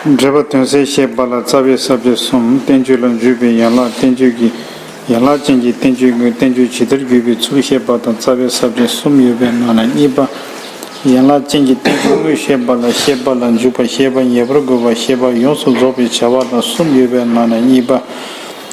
འགྲེལ་པ་དོན་གསལ་ཞེས་པ་ལ་རྩ་བའི་ཟབ་ཆོས་གསུམ་བསྟན་བཅོས་ལ་འཇུས་པའི་ཡན་ལག་བསྟན་བཅོས་ཀྱི་ཡན་ལག་ཅན་གྱི་བསྟན་བཅོས་ཀུན་བསྟན་བཅོས་ཇི་ལྟར་བརྒྱུད་པའི་ཚུལ་བཤད་པ་དང་རྩ་བའི་ཟབ་ཆོས་གསུམ་ཡོད་པའི་ནང་ན་གཉིས་པ་ཡན་ལག་ཅན་གྱི་བསྟན་བཅོས་དངོས་བཤད་པ་ལ་བཤད་པ་ལ་འཇུག་པ་ཤེས་པ་ངེས་པར་དགོས་པ་ཤེས་པ་ཡོངས་སུ་རྫོགས་པའི་བྱ་བ་དང་གསུམ་ཡོད་པའི་ནང་ན་གཉིས་པ།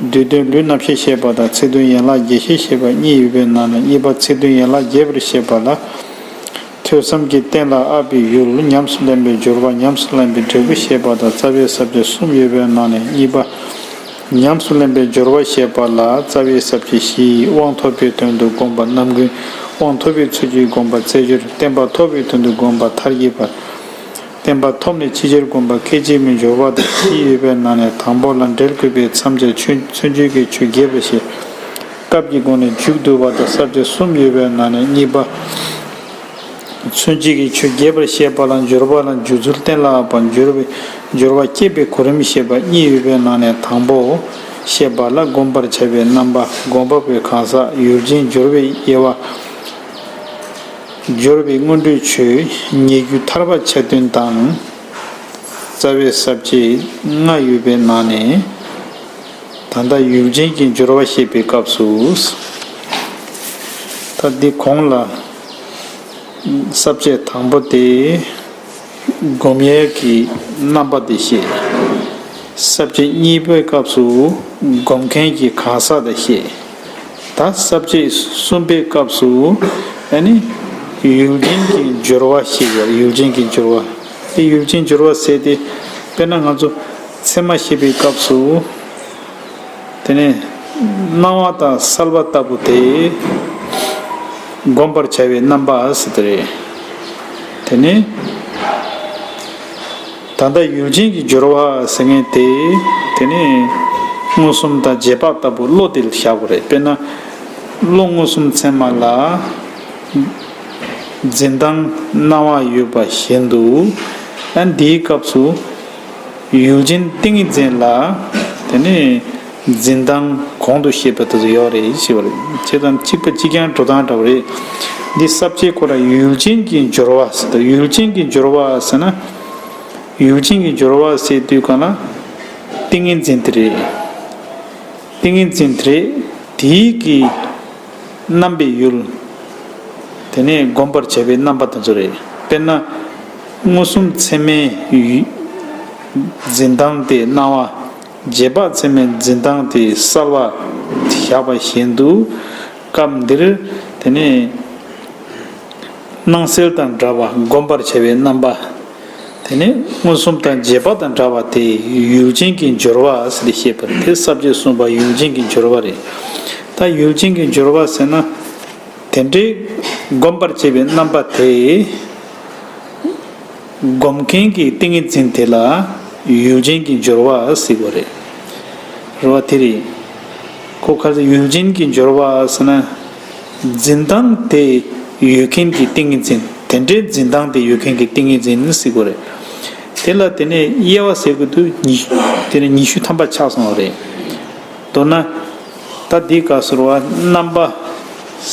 བསྡུས་དོན་ལུས་རྣམ་ཤེས་ཞེས་པ་དང་ཚིག་དོན་ཡན་ལག་བརྒྱད་ཤེས་ཞེས་པ་གཉིས་ཡོད་པའི་ནང་ནས་གཉིས་པ་ཚིག་དོན་ཡན་ལག་བརྒྱད་པར་བཤད་པ་ལ། ཐོས་བསམ་གྱི་རྟེན་ལ་ཨ་པའི་ཡུལ་ཉམས་སུ་ལེན་པའི་སྦྱོར་བ་ཉམས་སུ་ལེན་པའི་འབྲས་བུ་ཞེས་པ་དང་རྩ་བའི་ཟབ་ཆོས་གསུམ་ཡོད་པའི་ནང་ནས་གཉིས་པ། ཉམས་སུ་ལེན་པའི་སྦྱོར་བ་ཞེས་པ་ལ་རྩ་བའི་ཟབ་ཆོས་བཞིའི་དབང་ཐོབ་པའི་དོན་དུ་བསྒོམ་པ་རྣམ་ཀུན་དབང་ཐོབ་པའི་ཚུལ་གྱིས་བསྒོམ་པ་རྩེ་སྦྱོར་བསྟན་པ་ཐོབ་པའི་དོན་དུ་བསྒོམ་པ་མཐར་གྱིས་པར། བསྟན་པ་ཐོབ་ནས་ཕྱི་རྒྱལ་དགོན་པ་སྐད་ཅིག་མའི་འབྱོར་བ་དང་བཞི་ཡོད་པའི་ནང་ནས་དང་པོ་ལ་འབྲེལ་དགོས་པའི་མཚམས་ཆ་ཆུ་མཚོན་ཆོས་ཀྱི་ཆུ་རྒྱས་པ་ཞེས་སྐབས་ཀྱི་སྒོ་ནས་མཇུག་བསྡུ་བ་དང་གསར་ཆ་གསུམ་ཡོད་པའི་ནང་ནས་གཉིས་པ་མཚོན་བྱེད་ཀྱི་ཆུ་རྒྱས་པར་བཤད་པ་ལ་འབྱོར་བ་ལ་འཇུག་ཚུལ་གཏན་ལ་ཕབ་པ་འབྱོར་བའི་འབྱོར་བ་བསྐྱེད་པའི་གོ་རིམ་ཞེས་པ་གཉིས་ཡོད་པའི་ནང་ནས་དང་པོ་བཤད་པ་ལ་བསྒོམ་པར་བྱ་བའི་རྣམ་པ་སྒོམ་པ་པོའི་གང་ཟག་ཡུལ་ཅན་འབྱོར་བའི་དབྱེ་བ། འབྱོར་པའི་སྔོན་འགྲོའི་ཆོས་ཉེ་རྒྱུ་ཐར་པ་ཆ་བདུན་དང། རྩ་བའི་ཟབ་བཅས་ལྔ་ཡོད་པའི་ནང་ནས། ད་ལྟ་ཡུལ་ཅན་གྱི་འབྱོར་བ་བཤད་པའི་སྐབས་སུ། ད་འདི་གོང་ལ། ཟབ་བཅས་དང་པོ་སྟེ། སྒོམ་ཡས་ཀྱི་རྣམ་པ་དེ་བཤད། ཟབ་བཅས་གཉིས་པའི་སྐབས་སུ་སྒོམ་མཁན་གྱི་གང་ཟག་དེ་བཤད། ད་གསབ་བྱེད་གསུམ་པའི་སྐབས་སུ་ནི། ཡུལ་ཅན་གྱི་སྦྱོར་བ་ཞེས་པའི་ཡུལ་ཅན་གྱི་སྦྱོར་བ་དེ་ཡུལ་ཅན་སྦྱོར་བ་ཟེར་ཏེ། དཔེར་ན་ང་ཚོ་ཚད་མ་ཤེས་པའི་སྐབས་སུ། དེ་ནས་སྣང་བ་དང་གསལ་བ་ལྟ་བུ་དེ། བསྒོམ་པར་བྱ་བའི་རྣམ་པ་ཟེར་ཏེ། དེ་ནི། ད་ལྟ་ཡུལ་ཅན་གྱི་སྦྱོར་བ་ཟེར་ངེས་ཏེ། དེ་ནི། མངོན་སུམ་དང་རྗེས་དཔག་ལྟ་བུ་བློ་དེ་ལ་བཞག་པ་རེད། དཔེར་ན། བློ་མངོན་སུམ་མཚན་མ་ལ། འཛིན་སྟངས་སྣང་བ་ཡོད་པ་བཞིན་དུ། འདིའི་སྐབས་སུ། ཡུལ་ཅན་ཏིང་ངེ་འཛིན་ལ། དེ་ནི། འཛིན་སྟངས་གོང་དུ་བཤད་པ་དེ་ཚོ་ཡོད་རེད་ཅེས་པ་རེད། དེ་དང་གཅིག་པ་གཅིག་རྐྱང་འགྲོ་སྟངས་འདྲ་བོ་རེད། འདི་གསར་བརྗེའི་སྐོར་ལ་ཡུལ་ཅན་གྱི་འབྱོར་བ་ཟེར་ཏོ་ཡུལ་ཅན་གྱི་འབྱོར་བ་ཟེར་ན། ཡུལ་ཅན་གྱི་འབྱོར་བ་ཟེར་དུས་གང་ལ། ཏིང་ངེ་འཛིན་དེ་རེད། ཏིང་ངེ་འཛིན་དེ་རེད། དེའི་གི། རྣམ་པའི་ཡུལ། དེ་ནས་སྒོམ་པར་བྱ་བའི་རྣམ་པ་དེ་ཚོ་རེད། དཔེར་ན། མངོན་སུམ་ཚད་མའི། འཛིན་སྟངས་དེ་སྣང་བ། རྗེས་དཔག་ཚད་མའི་འཛིན་སྟངས་དེ་གསར་བ་བཞག་པ་བཞིན་དུ། སྐབས་འདིར་དེ་ནི། སྣང་གསལ་དང་འདྲ་བར་བསྒོམ་པར་བྱ་བའི་རྣམ་པ། དེ་ནི་མངོན་སུམ་དང་རྗེས་དཔག་དང་འདྲ་བ་དེ་ཡུལ་ཅན་གྱི་སྦྱོར་བ་ཟེར་ཏེ་ཤེས་པ་དེ་ས་བཅད་གསུམ་པ་ཡུལ་ཅན་གྱི་སྦྱོར་བ་རེད། ད་ཡུལ་ཅན་གྱི་སྦྱོར་བ་ཟེར་ན། དེ་འདྲའི་བསྒོམ་པར་བྱེད་པའི་རྣམ་པ་དེ། སྒོམ་མཁན་གྱི་ཏིང་ངེ་འཛིན་དེ་ལ་ཡུལ་ཅན་གྱི་སྦྱོར་བ་གཟིགས་པ་རེད། རེ་བ་དེ་རེད། ཁོ་གལ་ཏེ་ཡུལ་ཅན་གྱི་སྦྱོར་བ་ཟེར་ན། འཛིན་སྟངས་དེ་ཡོད་མཁན་གྱི་ཏིང་ངེ་འཛིན་དེ་འདྲའི་འཛིན་སྟངས་དེ་ཡོད་མཁན་གྱི་ཏིང་ངེ་འཛིན་གཟིགས་པ་རེད། དེ་ལ་དེ་ནས་དབྱེ་བ་ཟེར་དགོས་དུས་ཉི་ཤུ་དེ་ནས་ཉི་ཤུ་ཐམ་པ་ཆགས་སོང་བ་རེད། མདོར་ན། ད་འདི་ག་ཟུར་བ་རྣམ་པ་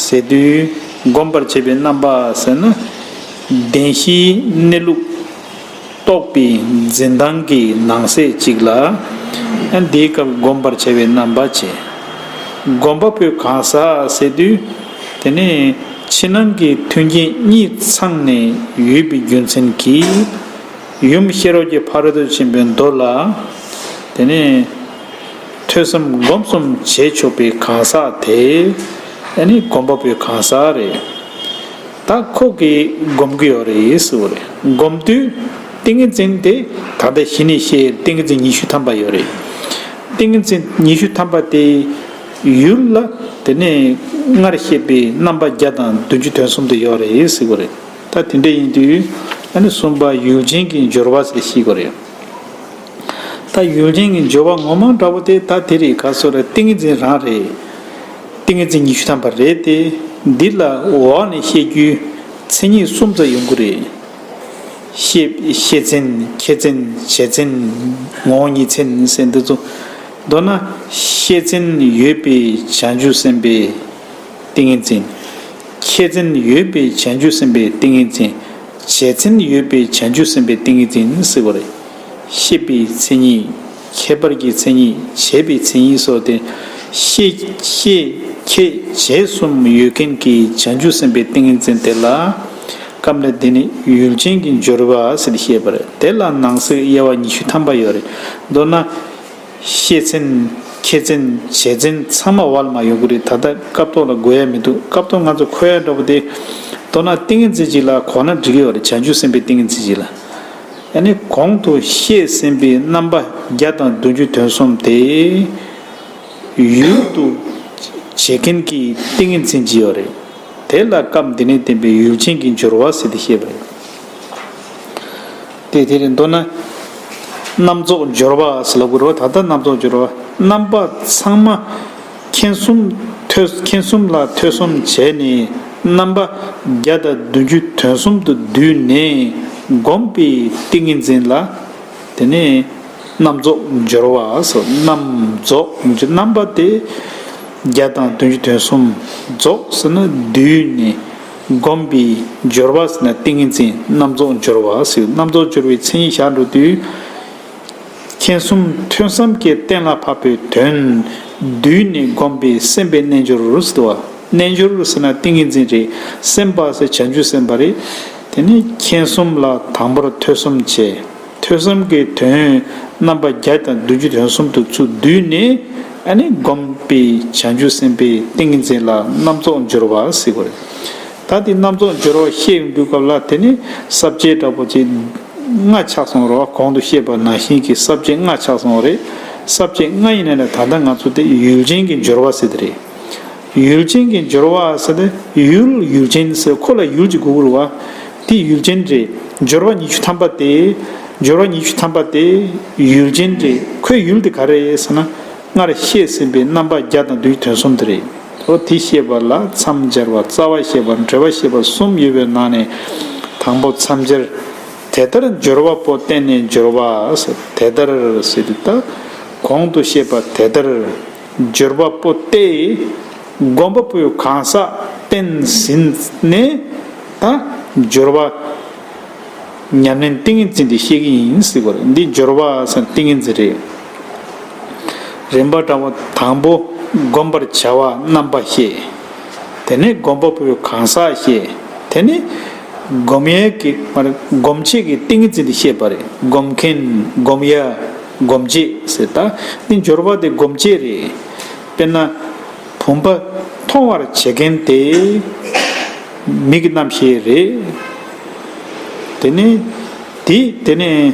ཟེར་དུས་སྒོམ་པར་བྱེད་པའི་རྣམ་པ་ཟེར་ན། བདེན་བཞིའི་གནས་ལུགས་རྟོགས་པའི་འཛིན་སྟངས་ཀྱི་ནང་གསེས་གཅིག་ལ། འདིའི་སྐབས་སྒོམ་པར་བྱེད་པའི་རྣམ་པ་བྱེད། སྒོམ་པ་པོས་གང་ཟག་ཟེར་དུས། དེ་ནི་ཕྱི་ནང་གི་མཐུན་རྐྱེན་གཉིས་ཚང་ནས་ཡོད་པའི་རྒྱུ་མཚན་གྱིས། ཡུམ་ཤེས་རབ་ཀྱི་ཕ་རོལ་ཏུ་ཕྱིན་པའི་མདོ་ལ། དེ་ནི། ཐོས་བསམ་སྒོམ་གསུམ་བྱས་ཆོག་པའི་གང་ཟག་དེ་ནི་སྒོམ་པ་པོའི་གང་ཟག་རེད། ད་ཁོག་གིས་སྒོམ་གི་ཡོད་རེད་ཟེར་བ་རེད་སྒོམ་དུས་ཏིང་ངེ་འཛིན་དེ་ད་ལྟ་གཞི་ནས་བཤད་ཏིང་ངེ་འཛིན་ཉི་ཤུ་ཐམ་པ་ཡོད་རེད། ཏིང་ངེ་འཛིན་ཉི་ཤུ་ཐམ་པ་དེ་ཡུལ་ལ་དེ་ནས་སྔར་བཤད་པའི་རྣམ་པ་བརྒྱ་དང་བདུན་ཅུ་དོན་གསུམ་དུ་ཡོད་རེད་ཟེར་བ་རེད། ད་དེ་འདྲ་ཡིན་དུས་ཨ་ནི་གསུམ་པ་ཡུལ་ཅན་གྱི་སྦྱོར་བ་ཟེར་ཤེས་གི་རེད། ད་ཡུལ་ཆེན་གྱི་འབྱོར་བ་ངོ་མ་འདྲ་བོ་དེ་ད་དེ་རིགས་ག་སོ་ར་ཏིང་ངེ་འཛིན་རང་རེད། ཏིང་ངེ་འཛིན་ཉི་ཤུ་ཐམ་པ་རེད་དེ། འདི་ལ་འོག་ནས་བཤད་རྒྱུའི་མཚན་ཉིད་གསུམ་ཙམ་ཡོང་གི་རེད། ཤེས་མཚན། ཁྱད་མཚན། བྱས་མཚན། ངོ་བོ་ཉིད་མཚན་ཟེར་འདི་ཚོ། མདོར་ན། ཤེས་མཚན་ཡོད་པའི་བྱང་ཆུབ་སེམས་དཔའི་ཏིང་ངེ་འཛིན། ཁྱད་མཚན་ཡོད་པའི་བྱང་ཆུབ་སེམས་དཔའི་ཏིང་ངེ་འཛིན། བྱས་མཚན་ཡོད་པའི་བྱང་ཆུབ་སེམས་དཔའི་ཏིང་ངེ་འཛིན་ཟེར་བ་རེད། ཤེས་པའི་མཚན་ཉིད། ཁྱད་པར་གྱི་མཚན་ཉིད། བྱེད་པའི་མཚན་ཉིད་སོགས་ཏེ། ཤེས་ཤེས་ཁྱད་བྱེད་གསུམ་ཡོད་མཁན་གྱི་བྱང་ཆུབ་སེམས་དཔའི་ཏིང་ངེ་འཛིན་དེ་ལ། སྐབས་འདིར་དེ་ནི་ཡུལ་ཅན་གྱི་སྦྱོར་བ་ཟེར་ཏེ་བཤད་པ་རེད། དེ་ལ་ནང་གསེས་དབྱེ་བ་ཉི་ཤུ་ཐམ་པ་ཡོད་རེད། མདོར་ན། ཤེས་མཚན། ཁྱད་མཚན། བྱེད་མཚན་ཚང་མ་བར་མ་ཡོད་ཀྱི་རེད་ད་ལྟ་སྐབས་ཐོག་ལ་འགོད་ཡ་མི་འདུག་སྐབས་ཐོག་ང་ཚོ་འཁོད་ཡ་འདྲ་པོ་དེ། མདོར་ན་ཏིང་ངེ་འཛིན་གཅིག་ལ་གོ་ན་འགྲིག་གི་ཡོད་རེད་བྱང་ཆུབ་སེམས་དཔའི་ཏིང་ངེ་འཛིན་གཅིག་ལ། ཡང་ནི་གོང་དུ་བཤད་ཟིན་པའི་རྣམ་པ་བརྒྱ་དང་བདུན་ཅུ་དོན་གསུམ་སྟེ། ཡུལ་དུ་བྱེད་མཁན་གྱི་ཏིང་ངེ་འཛིན་བགྱི་བ་རེད། དེ་ལ་སྐབས་འདི་ནས་བསྟན་པའི་ཡུལ་ཅན་གྱི་སྦྱོར་བ་ཟེར་ཏེ་བཤད་པ་རེད། དེ་དེར་མདོར་ན། རྣམ་རྫོགས་སྦྱོར་བ་ཟེར་ལ་དགོས་རོ། ད་ལྟ་རྣམ་རྫོགས་སྦྱོར་བ་རྣམ་པ་ཚང་མ། མཁྱེན་གསུམ། མཁྱེན་གསུམ་ལ་ཐོས་གསུམ་བྱས་ནས་རྣམ་པ་བརྒྱ་དང་བདུན་བཅུ་དོན་གསུམ་དུ་བསྡུས་ནས་བསྒོམས་པའི་ཏིང་ངེ་འཛིན་ལ། དེ་ནས་རྣམ་རྫོགས་སྦྱོར་བ་སོགས་རྣམ་རྫོགས་ཀྱི་རྣམ་པ་སྟེ། བརྒྱ་དང་བདུན་བཅུ་དོན་གསུམ་རྫོགས་ཟེར་ན་བསྡུས་ནས་བསྒོམས་པའི་སྦྱོར་བ་ཟེར་ན་ཏིང་ངེ་འཛིན་རྣམ་རྫོགས་སྦྱོར་བ་ཟེར་རྣམ་རྫོགས་སྦྱོར་བའི་མཚན་ཉིད་ཞག་འགྲོ་དུས། མཁྱེན་གསུམ་ཐོས་བསམ་གྱི་རྟེན་ལ་བབ་པའི་དོན། བསྡུས་ནས་བསྒོམས་པས་སེམས་པའི་རྣལ་འབྱོར་རུ་སྟེ་བ། རྣལ་འབྱོར་རུ་ཟེར་ན་ཏིང་ངེ་འཛིན་རེད། སེམས་དཔའ་ཟེར་བྱ་འཇུག་སེམས་དཔའ་རེད། དེ་ནས་མཁྱེན་གསུམ་ལ་དང་པོར་ཐོས་གསུམ་བྱས། ཐོས་བསམ་གྱི་དོན་རྣམ་པ་བརྒྱ་དང་བདུན་ཅུ་དོན་གསུམ་དུ་ཚུད་བསྡུས་ནས་བསྒོམས་པས་བྱ་འཇུག་སེམས་དཔའི་ཏིང་ངེ་འཛིན་ལ་རྣམ་རྫོགས་འབྱོར་བ་སེ་བ་རེད། ད་དེ་རྣམ་རྫོགས་སྦྱོར་བ་བཤད་འདུག་སྐབས་ལ་དེ་ནི་གསར་བརྗེའི་འདྲ་པོ་ཅིག། སྔ་ཆགས་སོང་རོགས་གོང་དུ་བཤད་པ་ནང་བཞིན་གྱི་གསར་བརྗེ་སྔ་ཆགས་སོང་བ་རེད། གསར་བརྗེ་སྔ་ཡིན་ན་ནི་ད་ལྟ་ང་ཚོ་དེ་ཡུལ་ཅན་གྱི་སྦྱོར་བ་ཟེར་དེ་རེད། ཡུལ་ཅན་གྱི་སྦྱོར་བ་ཟེར་ན་ཡུལ་ཡུལ་ཅན་ཟེར་ཁོ་ལ་ཡུལ་གྱི་གུ་གུལ་བ། དེ་ཡུལ་ཅན་རེད། སྦྱོར་བ་ཉི་ཤུ་ཐམ་པ་དེ། སྦྱོར་བ་ཉི་ཤུ་ཐམ་པ་དེ་ཡུལ་ཅན་རེད་ཁོའི་ཡུལ་དེ་ག་རེད་ཟེར་ན། སྔར་བཤད་ཟིན་པའི་རྣམ་པ་བརྒྱ་དང་བདུན་གྱི་དོན་གསུམ་དེ་རེད། པོ་དེ་ཤེས་པ་ལ་མཚམས་སྦྱར་བ་རྩ་བ་ཤེས་པ་འབྲེལ་བ་ཤེས་པ་གསུམ་ཡོད་པའི་ནང་ནས་དང་པོ་མཚམས་སྦྱར། དེ་ལྟར་སྦྱོར་བ་པོ་བསྟན་ནས་སྦྱོར་བ། དེ་ལྟར། གོང་དུ་བཤད་པ་དེ་ལྟར། སྦྱོར་བ་པོ་སྟེ། བསྒོམ་པ་པོའི་གང་ཟག་བསྟན་ཟིན་ནས། ད་སྦྱོར་བ། ཉམས་ལེན་ཏིང་ངེ་འཛིན་དེ་བཤད་ཀྱི་ཡིན། འདི་སྦྱོར་བ། ཏིང་ངེ་འཛིན་རེད། རིམ་པར་བགྲང་བ་དང་པོ་བསྒོམ་པར་བྱ་བ་རྣམ་པ་ཤེས། དེ་ནས་བསྒོམ་པ་པོའི་གང་ཟག་ཤེས། དེ་ནས། བསྒོམ་ཡས་ཀྱི། སྒོམ་བྱེད་ཀྱི་ཏིང་ངེ་འཛིན་དེ་ཤེས་པ་རེད། བསྒོམ་མཁན། བསྒོམ་ཡ། སྒོམ་བྱེད་ཟེར་ད། འདི་སྦྱོར་བ་དེ་སྒོམ་བྱེད་རེད། དཔེར་ན། བུམ་པ། མཐོང་བར་བྱེད་མཁན་དེ། མིག་གི་རྣམ་ཤེས་རེད། དེ་ནས། དེ་ནས།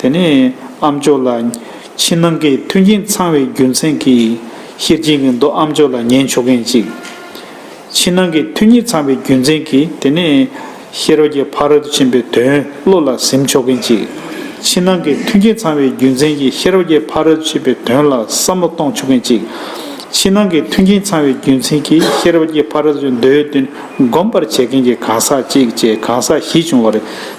དེ་ནས་ཨ་མཆོག་ལ། ཕྱི་ནང་གི་མཐུན་རྐྱེན་ཚང་བའི་རྒྱུ་མཚན་གྱིས། ཤེར་རྒྱལ་གྱི་མདོ་ཨ་མཆོག་ལ་ཉན་ཆོག་མཁན་ཅིག། ཕྱི་ནང་གི་མཐུན་རྐྱེན་ཚང་བའི་རྒྱུ་མཚན་གྱིས་དེ་ནས། ཤེར་རྒྱལ་ཕ་རོལ་ཏུ་ཕྱིན་པའི་དོན་བློ་ལ་གཟིམ་ཆོག་མཁན་ཅིག། ཕྱི་ནང་གི་མཐུན་རྐྱེན་ཚང་བའི་རྒྱུ་མཚན་གྱིས་ཤེར་རྒྱལ་ཕ་རོལ་ཏུ་ཕྱིན་པའི་དོན་ལ་བསམ་བློ་གཏོང་ཆོག་མཁན་ཅིག། ཕྱི་ནང་གི་མཐུན་རྐྱེན་ཚང་བའི་རྒྱུ་མཚན་གྱིས་ཤེར་རྒྱལ་ཕ་རོལ་ཏུ་ཕྱིན་མདོའི་དོན་སྒོམ་པར་བྱེད་མཁན་གྱི་གང་ཟག་ཅིག་ཅེས་གང་ཟག་བཞི་བྱུང་བར།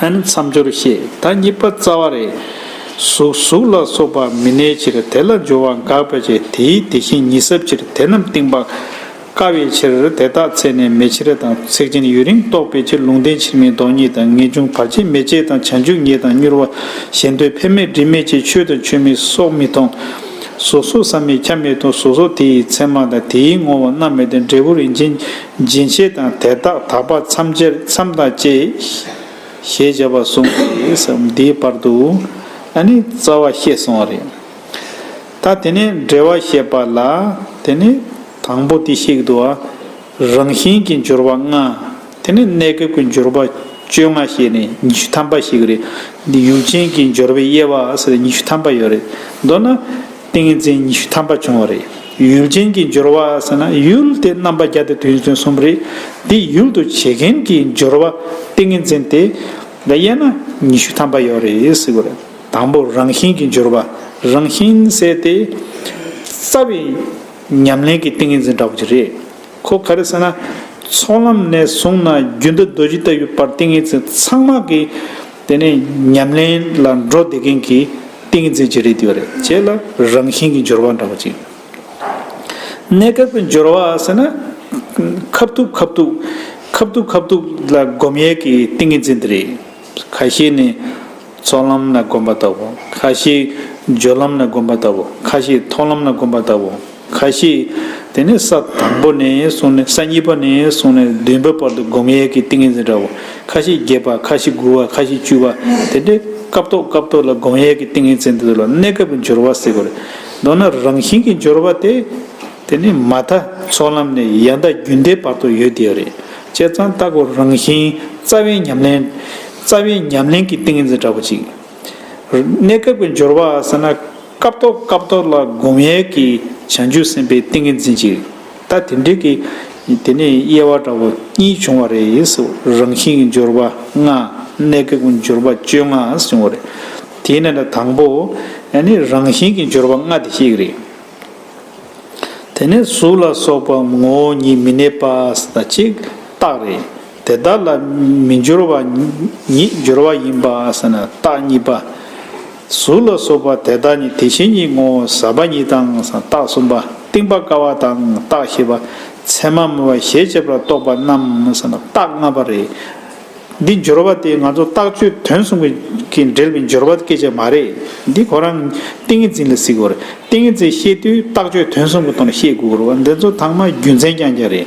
ཨ་ནི་མཚམས་སྦྱོར་ཞེས་ད་གཉིས་པ་རྩ་བ་རེད། གཟུགས་གཟུགས་ལ་སོགས་པ་མི་གནས་ཕྱིར་དེ་ལ་སྦྱོར་བ་འགགས་པའི་ཕྱིར་དེའི་དེ་བཞིན་ཉིད་ཟབ་ཕྱིར་དེ་རྣམས་གཏིང་དཔག་དཀའ་བའི་ཕྱིར་དེ་དག་ཚད་ནས་མེ་ཕྱིར་དང་ཚེགས་ཆེན་ཡུན་རིང་རྟོགས་པའི་ཕྱིར་ལུང་བསྟན་ཕྱིར་མིན་ལྡོག་གཉིས་དང་ངེས་འབྱུང་བར་ཆད་མེད་ཅེས་དང་བྱང་ཆུབ་ཉིད་དང་མྱུར་བ་ཞེ་འདོད་འཕེན་མེད་འབྲིང་མེད་ཅེས་ཆོས་དང་ཆོས་མིན་སོགས་མི་མཐོང། གཟུགས་སོགས་བསམ་མེད་ཁྱབ་མེད་དང་གཟུགས་སོགས་དེ་ཡི་མཚན་མ་དང་དེའི་ངོ་བོ་རྣམ་མེད་དང་འབྲས་བུ་རིན་ཆེན་སྦྱིན་བྱེད་དང་དེ་དག་དག་པ་མཚམས་སྦྱར་མཚམས་དང་བཅས། ཞེས་བྱ་བ་གསུངས་ཏེ་སོ། འདིའི་བར་དུ་ཨ་ནི་རྩ་བ་ཤེས་སོང་བ་རེད། ད་དེ་ནས་འགྲེལ་བ་བཤད་པ་ལ་དེ་ནི་དང་པོ་དེ་བཤིག་དུ་བ་རང་བཞིན་གྱི་འགྱུར་བ་ལྔ། དེ་ནས་གནས་སྐབས་ཀྱི་འགྱུར་བ་བཅོ་ལྔ་བཤད་ནས་ཉི་ཤུ་ཐམ་པ་ཞིག་རེད། འདི་ཡུག་ཆེན་གྱི་འབྱོར་བའི་དབྱེ་བ་ཉི་ཤུ་ཐམ་པ་ཡོད་རེད། མདོར་ན། ཏིང་ངེ་འཛིན་ཉི་ཤུ་ཐམ་པ་བྱུང་བ་རེད། ཡུལ་ཅན་གྱི་སྦྱོར་བ་ཟེར་ན་ཡུལ་དེ་རྣམ་པ་བརྒྱ་སྟེ་དུས་མཚུངས་གསུམ་རེད། འདི་ཡུལ་དུ་བྱེད་མཁན་གྱི་སྦྱོར་བ་ཏིང་ངེ་འཛིན་དེ། ལ་དབྱེ་ན་ཉི་ཤུ་ཐམ་པ་ཡོད་རེད། དང་པོ་རང་བཞིན་གྱི་སྦྱོར་བ་རང་བཞིན་བསལ་ཏེ། རྩ་བའི་ཉམས་ལེན་གྱི་ཏིང་ངེ་འཛིན་འདྲ་བོ་ཅིག་རེད། ཁོ་ག་རེ་ཟེར་ན། ཚོགས་ལམ་ནས་བཟུང་ན་རྒྱུན་དུ་རྡོ་རྗེ་ལྟ་བུའི་བར་ཏིང་ངེ་འཛིན་ཚང་མ་གི། དེ་ནི་ཉམས་ལེན་ལ་འགྲོ་བདེ་མཁན་གྱི་ཏིང་འཛིན་གྱི་རིགས་དེ་བ་རེད་ཁྱེད་ལ་རང་བཞིན་གྱི་འབྱོར་བ་འདྲ་བོ་ཅིག་གནས་སྐབས་ཀྱི་འབྱོར་བ་ཟེར་ན། ཁབ་ཐུག་ཁབ་ཐུག། ཁབ་ཐུག་ཁབ་ཐུག་ལ་སྒོམ་ཡས་ཀྱི་ཏིང་འཛིན་དེ་རེད། ཁ་ཤས་ནི་ཚོགས་ལམ་ན་སྒོམ་པ་ལྟ་བུ། ཁ་ཤས་སྦྱོར་ལམ་ན་སྒོམ་པ་ལྟ་བུ། ཁ་ཤས་མཐོང་ལམ་ན་སྒོམ་པ་ལྟ་བུ། ཁ་ཤས་དེ་ནི་ས་དང་པོ་ནས་བཟུང་ནས་ས་གཉིས་པ་ནས་བཟུང་ནས་བདུན་པའི་བར་དུ་བསྒོམ་ཡས་ཀྱི་ཏིང་ངེ་འཛིན་འདྲ་བོ་ཁ་ཤས་བརྒྱད་པ་ཁ་ཤས་དགུ་བ་ཁ་ཤས་བཅུ་བ་དེ་འདྲའི་སྐབས་ཐོག་སྐབས་ཐོག་ལ་བསྒོམ་ཡས་ཀྱི་ཏིང་ངེ་འཛིན་དེ་ལ་གནས་སྐབས་ཀྱི་སྦྱོར་བ་ཟེར་བ་རེད། མདོར་ན་རང་བཞིན་གྱི་སྦྱོར་བ་དེ་དེ་ནི་མ་མཐའ་ཚོགས་ལམ་ནས་ཡལ་མཐའ་རྒྱུན་མཐའི་བར་དུ་ཡོད་དེ་རེད་བྱས་ཙང་ལྟ་གོ་རང་བཞིན་རྩ་བའི་ཉམས་ལེན་རྩ་བའི་ཉམས་ལེན་གྱི་ཏིང་ངེ་འཛིན་འདྲ་བོ་གཅིག། གནས་སྐབས་ཀྱི་སྦྱོར་བ་ཟེར་ན། སྐབས་ཐོག་སྐབས་ཐོག་ལ་བསྒོམ་ཡས་ཀྱི་བྱང་ཆུབ་སེམས་དཔའི་ཏིང་ངེ་འཛིན་གྱི་ད་དེ་འདྲིལ་གྱི། དེ་ནས་དབྱེ་བ་འདྲ་བོ་གཉིས་བྱུང་བ་རེད། རང་བཞིན་གྱི་སྦྱོར་བ་ལྔ། གནས་སྐབས་ཀྱི་སྦྱོར་བ་བཅོ་ལྔ་བྱུང་བ་རེད། དེ་ནས་ན་དང་པོ། རང་བཞིན་གྱི་སྦྱོར་བ་ལྔ་དེ་གཅིག་རེད། དེ་ནས་གཟུགས་ལ་སོགས་པ་ངོ་བོ་ཉིད་མི་གནས་པ་ད་གཅིག་རྟགས་རེད། དེ་དག་ལ་མི་སྦྱོར་བ་ཉིད་སྦྱོར་བ་ཡིན་པ་ཟེར་ན་རྟགས་གཉིས་པ། གཟུགས་ལ་སོགས་པ་དེ་དག་ནི་དེ་བཞིན་ཉིད་ངོ་བོ་ཟབ་པ་ཉིད་དང་རྟགས་གསུམ་པ་གཏིང་པ་ཀ་བ་དང་རྟགས་བཞི་པ་མཚན་མ་མེད་པ་ཞེས་བྱེད་པར་རྟོགས་པ་རྣམས་ཟེར་ན་རྟགས་ལྔ་པ་རེད། འདི་སྦྱོར་བ་དེ་ང་ཚོ་རྟགས་ཆོས་དོན་གསུམ་གྱི་འབྲེལ་བའི་སྦྱོར་བ་སྐད་ཆ་མ་རེད། འདི་ཁོ་རང་ཏིང་ངེ་འཛིན་ལ་གཟིགས་དགོས་རེད། ཏིང་ངེ་འཛིན་ཤེས་དུས་རྟགས་ཆོས་དོན་གསུམ་གྱི་ཐོག་ནས་ཤེས་དགོས་རེད། འདི་ཚོ་ཚང་མ་རྒྱུ་མཚན་རྐྱང་རྐྱང་རེད།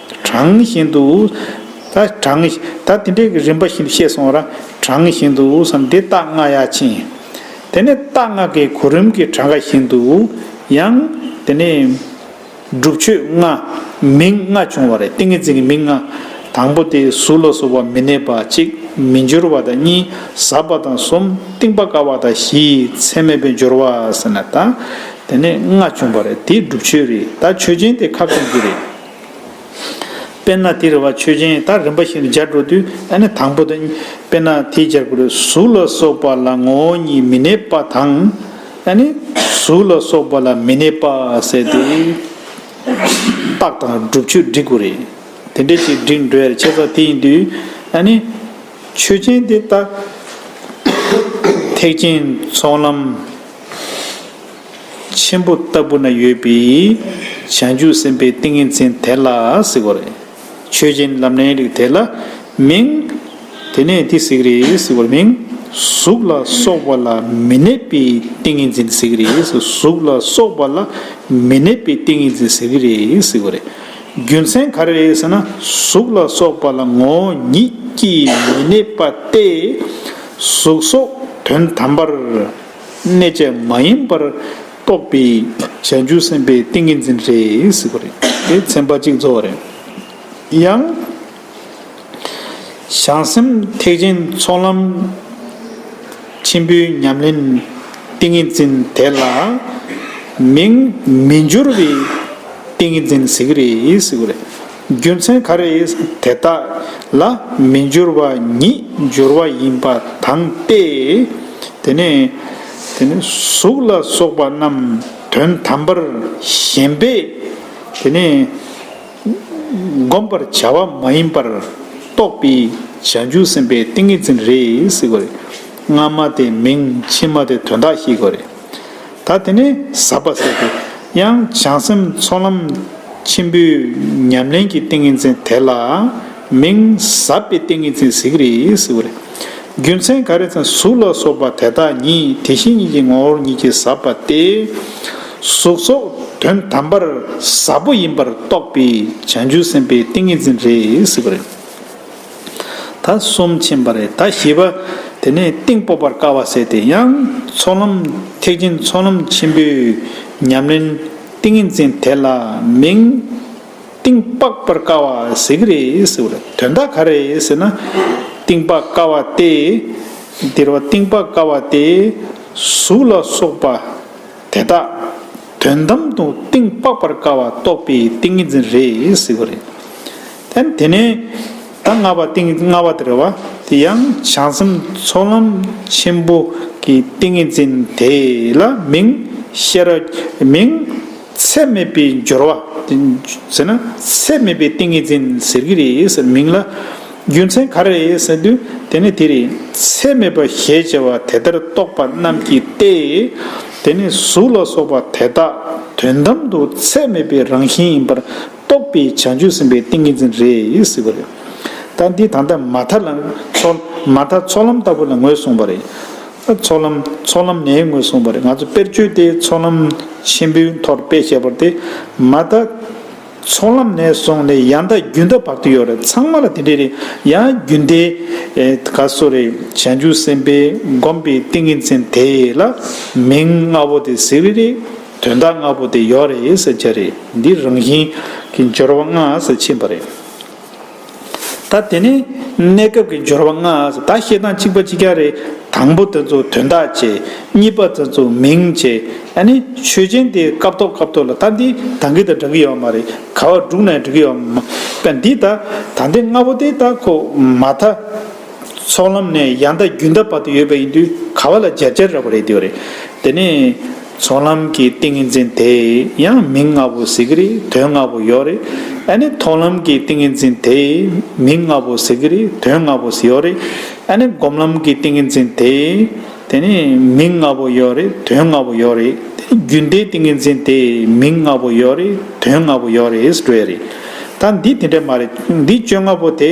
གྲངས་བཞིན་དུ། ད་གྲངས། ད་དེ་འདྲའི་རིམ་པ་བཞིན་དུ་བཤད་སོང་ར། གྲངས་བཞིན་དུ་བསམ་སྟེ་རྟགས་ལྔ་ཡ་ཕྱིན། དེ་ནས་རྟགས་ལྔ་གའི་གོ་རིམ་གྱི་གྲངས་ཀ་བཞིན་དུ། ཡང། དེ་ནས། སྒྲུབ་མཆོད་ལྔ། མིང་ལྔ་བྱུང་བ་རེད་ཏིང་ངེ་འཛིན་གྱི་མིང་ལྔ། དང་པོ་དེ་གཟུགས་ལ་སོགས་པ་མི་གནས་པ་གཅིག་མི་འགྱུར་བ་དང་གཉིས་ཟབ་པ་དང་གསུམ་གཏིང་པ་དཀར་བ་དང་བཞི་ཚད་མེད་པའི་སྦྱོར་བ་ཟེར་ན་ད། དེ་ནས་ལྔ་བྱུང་བ་རེད་དེ་སྒྲུབ་མཆོད་རེད་ད་མཆོད་སྦྱིན་དེ་ཁ་བཙུམ་གྱི་རེད། དཔེར་ན་དེ་རེ་བ་ཆོས་ཅན་དག་རིམ་པ་བཞིན་དུ་སྦྱར་འགྲོ་དུས་ནི་དང་པོ་དང། དཔེར་ན་དེ་སྦྱར་དགོས་རེ་གཟུགས་ལ་སོགས་པ་ལ་ངོ་བོ་ཉིད་མི་གནས་པ་དང། གཟུགས་ལ་སོགས་པ་ལ་མི་གནས་པ་ཟེར་ཏེ། རྟགས་དང་སྒྲུབ་ཆོས་སྒྲིག་དགོས་རེ། དེ་འདྲའི་ཞིག་སྒྲིག་འགྲོ་ཡར་བྱས་པ་དེ་ཡིན་དུས། ཆོས་ཅན་དེ་དག་ཐེག་ཆེན་ཚོགས་ལམ། ཆེན་པོ་ལྟ་བུ་ན་ཡོད་པའི་བྱང་ཆུབ་སེམས་དཔའི་ཏིང་ངེ་འཛིན་དེ་ལ་གཟིགས་པ་རེད། ཆོས་ཅན་ལམ་ནས་རིགས་དེ་ལ་མིང། དེ་ནས་དེ་གཟིགས་རེད་གཟིགས་པར་མིང། གཟུགས་ལ་སོགས་པ་ལ་མི་གནས་པའི་ཏིང་ངེ་འཛིན་གཟིགས་རེད་གཟུགས་ལ་སོགས་པ་ལ་མི་གནས་པའི་ཏིང་ངེ་འཛིན་གཟིགས་རེད་གཟིགས་པ་རེད། རྒྱུ་མཚན་ག་རེ་རེད་ཟེར་ན་གཟུགས་ལ་སོགས་པ་ལ་ངོ་བོ་ཉིད་ཀྱིས་མི་གནས་པ་སྟེ། གཟུགས་སོགས་དོན་དམ་པར། གནས་བཅས་མ་ཡིན་པར་རྟོགས་པའི་ཞལ་འཇུག་སེམས་དཔའི་ཏིང་ངེ་འཛིན་རེད། དེ་ཚན་པ་གཅིག་རྫོགས་རེད། ཡང། བྱང་སེམས་ཐེག་ཆེན་ཚོགས་ལམ་ཆེན་པོའི་ཉམས་ལེན་ཏིང་ངེ་འཛིན་དེ་ལ་མིང་མི་འགྱུར་བའི་ཏིང་ངེ་འཛིན་ཟེར་གྱི་རེད། རྒྱུ་མཚན་ག་རེ་ཡིན་དེ་དག་ལ་མི་སྦྱོར་བ་ཉིད་སྦྱོར་བ་ཡིན་པ་དང་སྟེ། དེ་ནས་གཟུགས་ལ་སོགས་པ་རྣམས་དོན་དམ་པར་ཞེན་པས་དེ་ནི་བསྒོམ་པར་བྱ་བ་མ་ཡིན་པར་རྟོགས་པའི་བྱང་ཆུབ་སེམས་དཔའི་ཏིང་ངེ་འཛིན་རེད། སྔ་མ་དེ་མིང་ཕྱི་མ་དེ་དོན་དག་ཞེས་གོ། ད་དེ་ནས་ཟབ་པ་ཟེར་ཏེ། ཡང་བྱང་སེམས་ཚོགས་ལམ་ཆེན་པོའི་ཉམས་ལེན་གྱི་ཏིང་ངེ་འཛིན་དེ་ལ་མིང་ཟབ་པའི་ཏིང་ངེ་འཛིན་གཟིགས་རེ་ཟེར་བ་རེད། རྒྱུ་མཚན་ག་རེ་ཙམ་གཟུགས་ལ་སོགས་པ་དེ་དག་ཉིད་དེ་བཞིན་ཉིད་ཀྱི་ངོ་བོར་ཉིད་ཀྱིས་ཟབ་པ་སྟེ། གཟུགས་སོགས་དོན་དམ་པར་ཟབ་པོ་ཡིན་པར་རྟོགས་པའི་བྱང་ཆུབ་སེམས་དཔའི་ཏིང་ངེ་འཛིན་རེ་ཟེར་བ་རེད། ད་གསུམ་ཕྱིན་པ་རེད་ད་བཞི་པ་དེ་ནས་གཏིང་སྤོ་བར་དཀའ་བ་བསལ་ཏེ་ཡང་ཚོགས་ལམ་ཐེག་ཆེན་ཚོགས་ལམ་ཆེན་པོའི་ཉམས་ལེན་ཏིང་ངེ་འཛིན་དེ་ལ་མིང། གཏིང་དཔག་པར་དཀའ་བ་ཟེར་གྱི་རེད་ཟེར་བ་ལ་དོན་དག་ག་རེད་ཟེར་ན། གཏིང་དཔག་དཀའ་བ་སྟེ། འདིར་བ་གཏིང་དཔག་དཀའ་བ་སྟེ། གཟུགས་ལ་སོགས་པ་དེ་དག་དོན་དམ་དུ་གཏིང་དཔག་པར་དཀའ་བ་རྟོགས་པའི་ཏིང་ངེ་འཛིན་རེད་ཟེར་བ་རེད། དེ་ནས་ད་སྔ་བ་ཏིང་ངེ་ལྔ་བ་དེར་བ་དེ་ཡང་བྱང་སེམས་ཚོགས་ལམ་ཆེན་པོ་གི་ཏིང་ངེ་འཛིན་དེ་ལ་མིང་བཤད་ར་མིང་ཚད་མེད་པའི་སྦྱོར་བ་ཟེར་ན་ཚད་མེད་པའི་ཏིང་ངེ་འཛིན་ཟེར་གྱི་རེད་མིང་ལ་རྒྱུ་མཚན་ག་རེད་ཟེར་དུས་དེ་ནི་དེ་རེད་ཚད་མེད་པ་ཞེས་བྱ་བ་དེ་ལྟར་རྟོགས་པ་རྣམས་ཀྱིས་ཏེ། དེ་ནི་གཟུགས་ལ་སོགས་པ་དེ་དག་དོན་དམ་དུ་ཚད་མེད་པའི་རང་བཞིན་ཡིན་པར་རྟོགས་པའི་བྱང་ཆུབ་སེམས་དཔའི་ཏིང་ངེ་འཛིན་རེད་ཟེར་བ་རེད། ད་འདི་ད་ལྟ་མ་མཐའ་ལ། མ་མཐའ་ཚོགས་ལམ་ལྟ་བུ་ལ་ངོས་བཟུང་བ་རེད། ཚོགས་ལམ་ཚོགས་ལམ་ནས་ངོས་བཟུང་བ་རེད་ང་ཚོ་དཔེར་བརྗོད་དེ་ཚོགས་ལམ་ཆེན་པོའི་མཐོར་དཔེ་བྱས་པར་དེ་མ་མཐའ། ཚོགས་ལམ་ནས་བཟུང་ནས་ཡང་མཐའ་རྒྱུན་མཐའ་བར་དུ་ཡོད་རེད་ཚང་མ་ལ་དེ་འདྲས་རེད་ཡང་རྒྱུན་མཐའི། ག་སོ་རེ་བྱང་ཆུབ་སེམས་དཔའི་བསྒོམས་པའི་ཏིང་ངེ་འཛིན་དེ་ལ་མིང་ལྔ་བོ་དེ་ཟེར་བས་རེད། དོན་དག་ལྔ་པོ་དེ་ཡོག་རེད་ཟེར་གྱི་རེད་འདི་རང་བཞིན་གྱི་འབྱོར་བ་ལྔ་སུ་ཕྱིན་པ་རེད་ད་དེ་ནི་གནས་སྐབས་ཀྱི་འབྱོར་བ་ལྔ་ད་བཤད་སྟངས་གཅིག་པ་གཅིག་རྐྱང་རེད་དང་པོ་དེ་ཚོ་དོན་དག་བྱེད་གཉིས་པ་དེ་ཚོ་མིང་བྱེད་ཨ་ནི་ཆོས་ཅན་དེ་སྐབས་ཐོག་སྐབས་ཐོག་ལ་ད་འདི་ད་འགི་ད་འདྲ་གི་ཡོག་མ་རེད་ག་བ་འབྲུག་ནས་འབྲི་གི་ཡོག་མ་པ་འདི་ད་ད་འདི་ལྔ་པོ་དེ་ད་ཁོ་མ་ད་ཚོགས་ལམ་ནས་ཡང་ད་རྒྱུན་ད་བར་དུ་ཡོད་པ་ཡིན་དུས་ག་བ་ལ་འཇར་འཇར་ར་བ་རེད་དེ་བ་རེད་དེ་ནི། ཚོགས་ལམ་གྱི་ཏིང་ངེ་འཛིན་དེ་ཡང་མིང་ལྔ་པོ་གཟིགས་རིགས་དོན་ལྔ་པོ་ཡོད་རིགས་ཨ་ནི་ཐོགས་ལམ་གྱི་ཏིང་ངེ་འཛིན་དེ་མིང་ལྔ་པོ་གཟིགས་རིགས་དོན་ལྔ་པོ་ཡོད་རིགས་ཨ་ནི་སྒོམ་ལམ་གྱི་ཏིང་ངེ་འཛིན་དེ་དེ་ནི་མིང་ལྔ་པོ་ཡོད་རིགས་དོན་ལྔ་པོ་ཡོད་རིགས་དེ་ནི་རྒྱུན་མཐའི་ཏིང་ངེ་འཛིན་དེ་མིང་ལྔ་པོ་ཡོད་རིགས་དོན་ལྔ་པོ་ཡོད་རིགས་ཞེས་བཀྲལ་བས་རེད་ད་འདི་དེ་འདྲ་མ་རེད་འདི་བཅོ་ལྔ་པོ་དེ་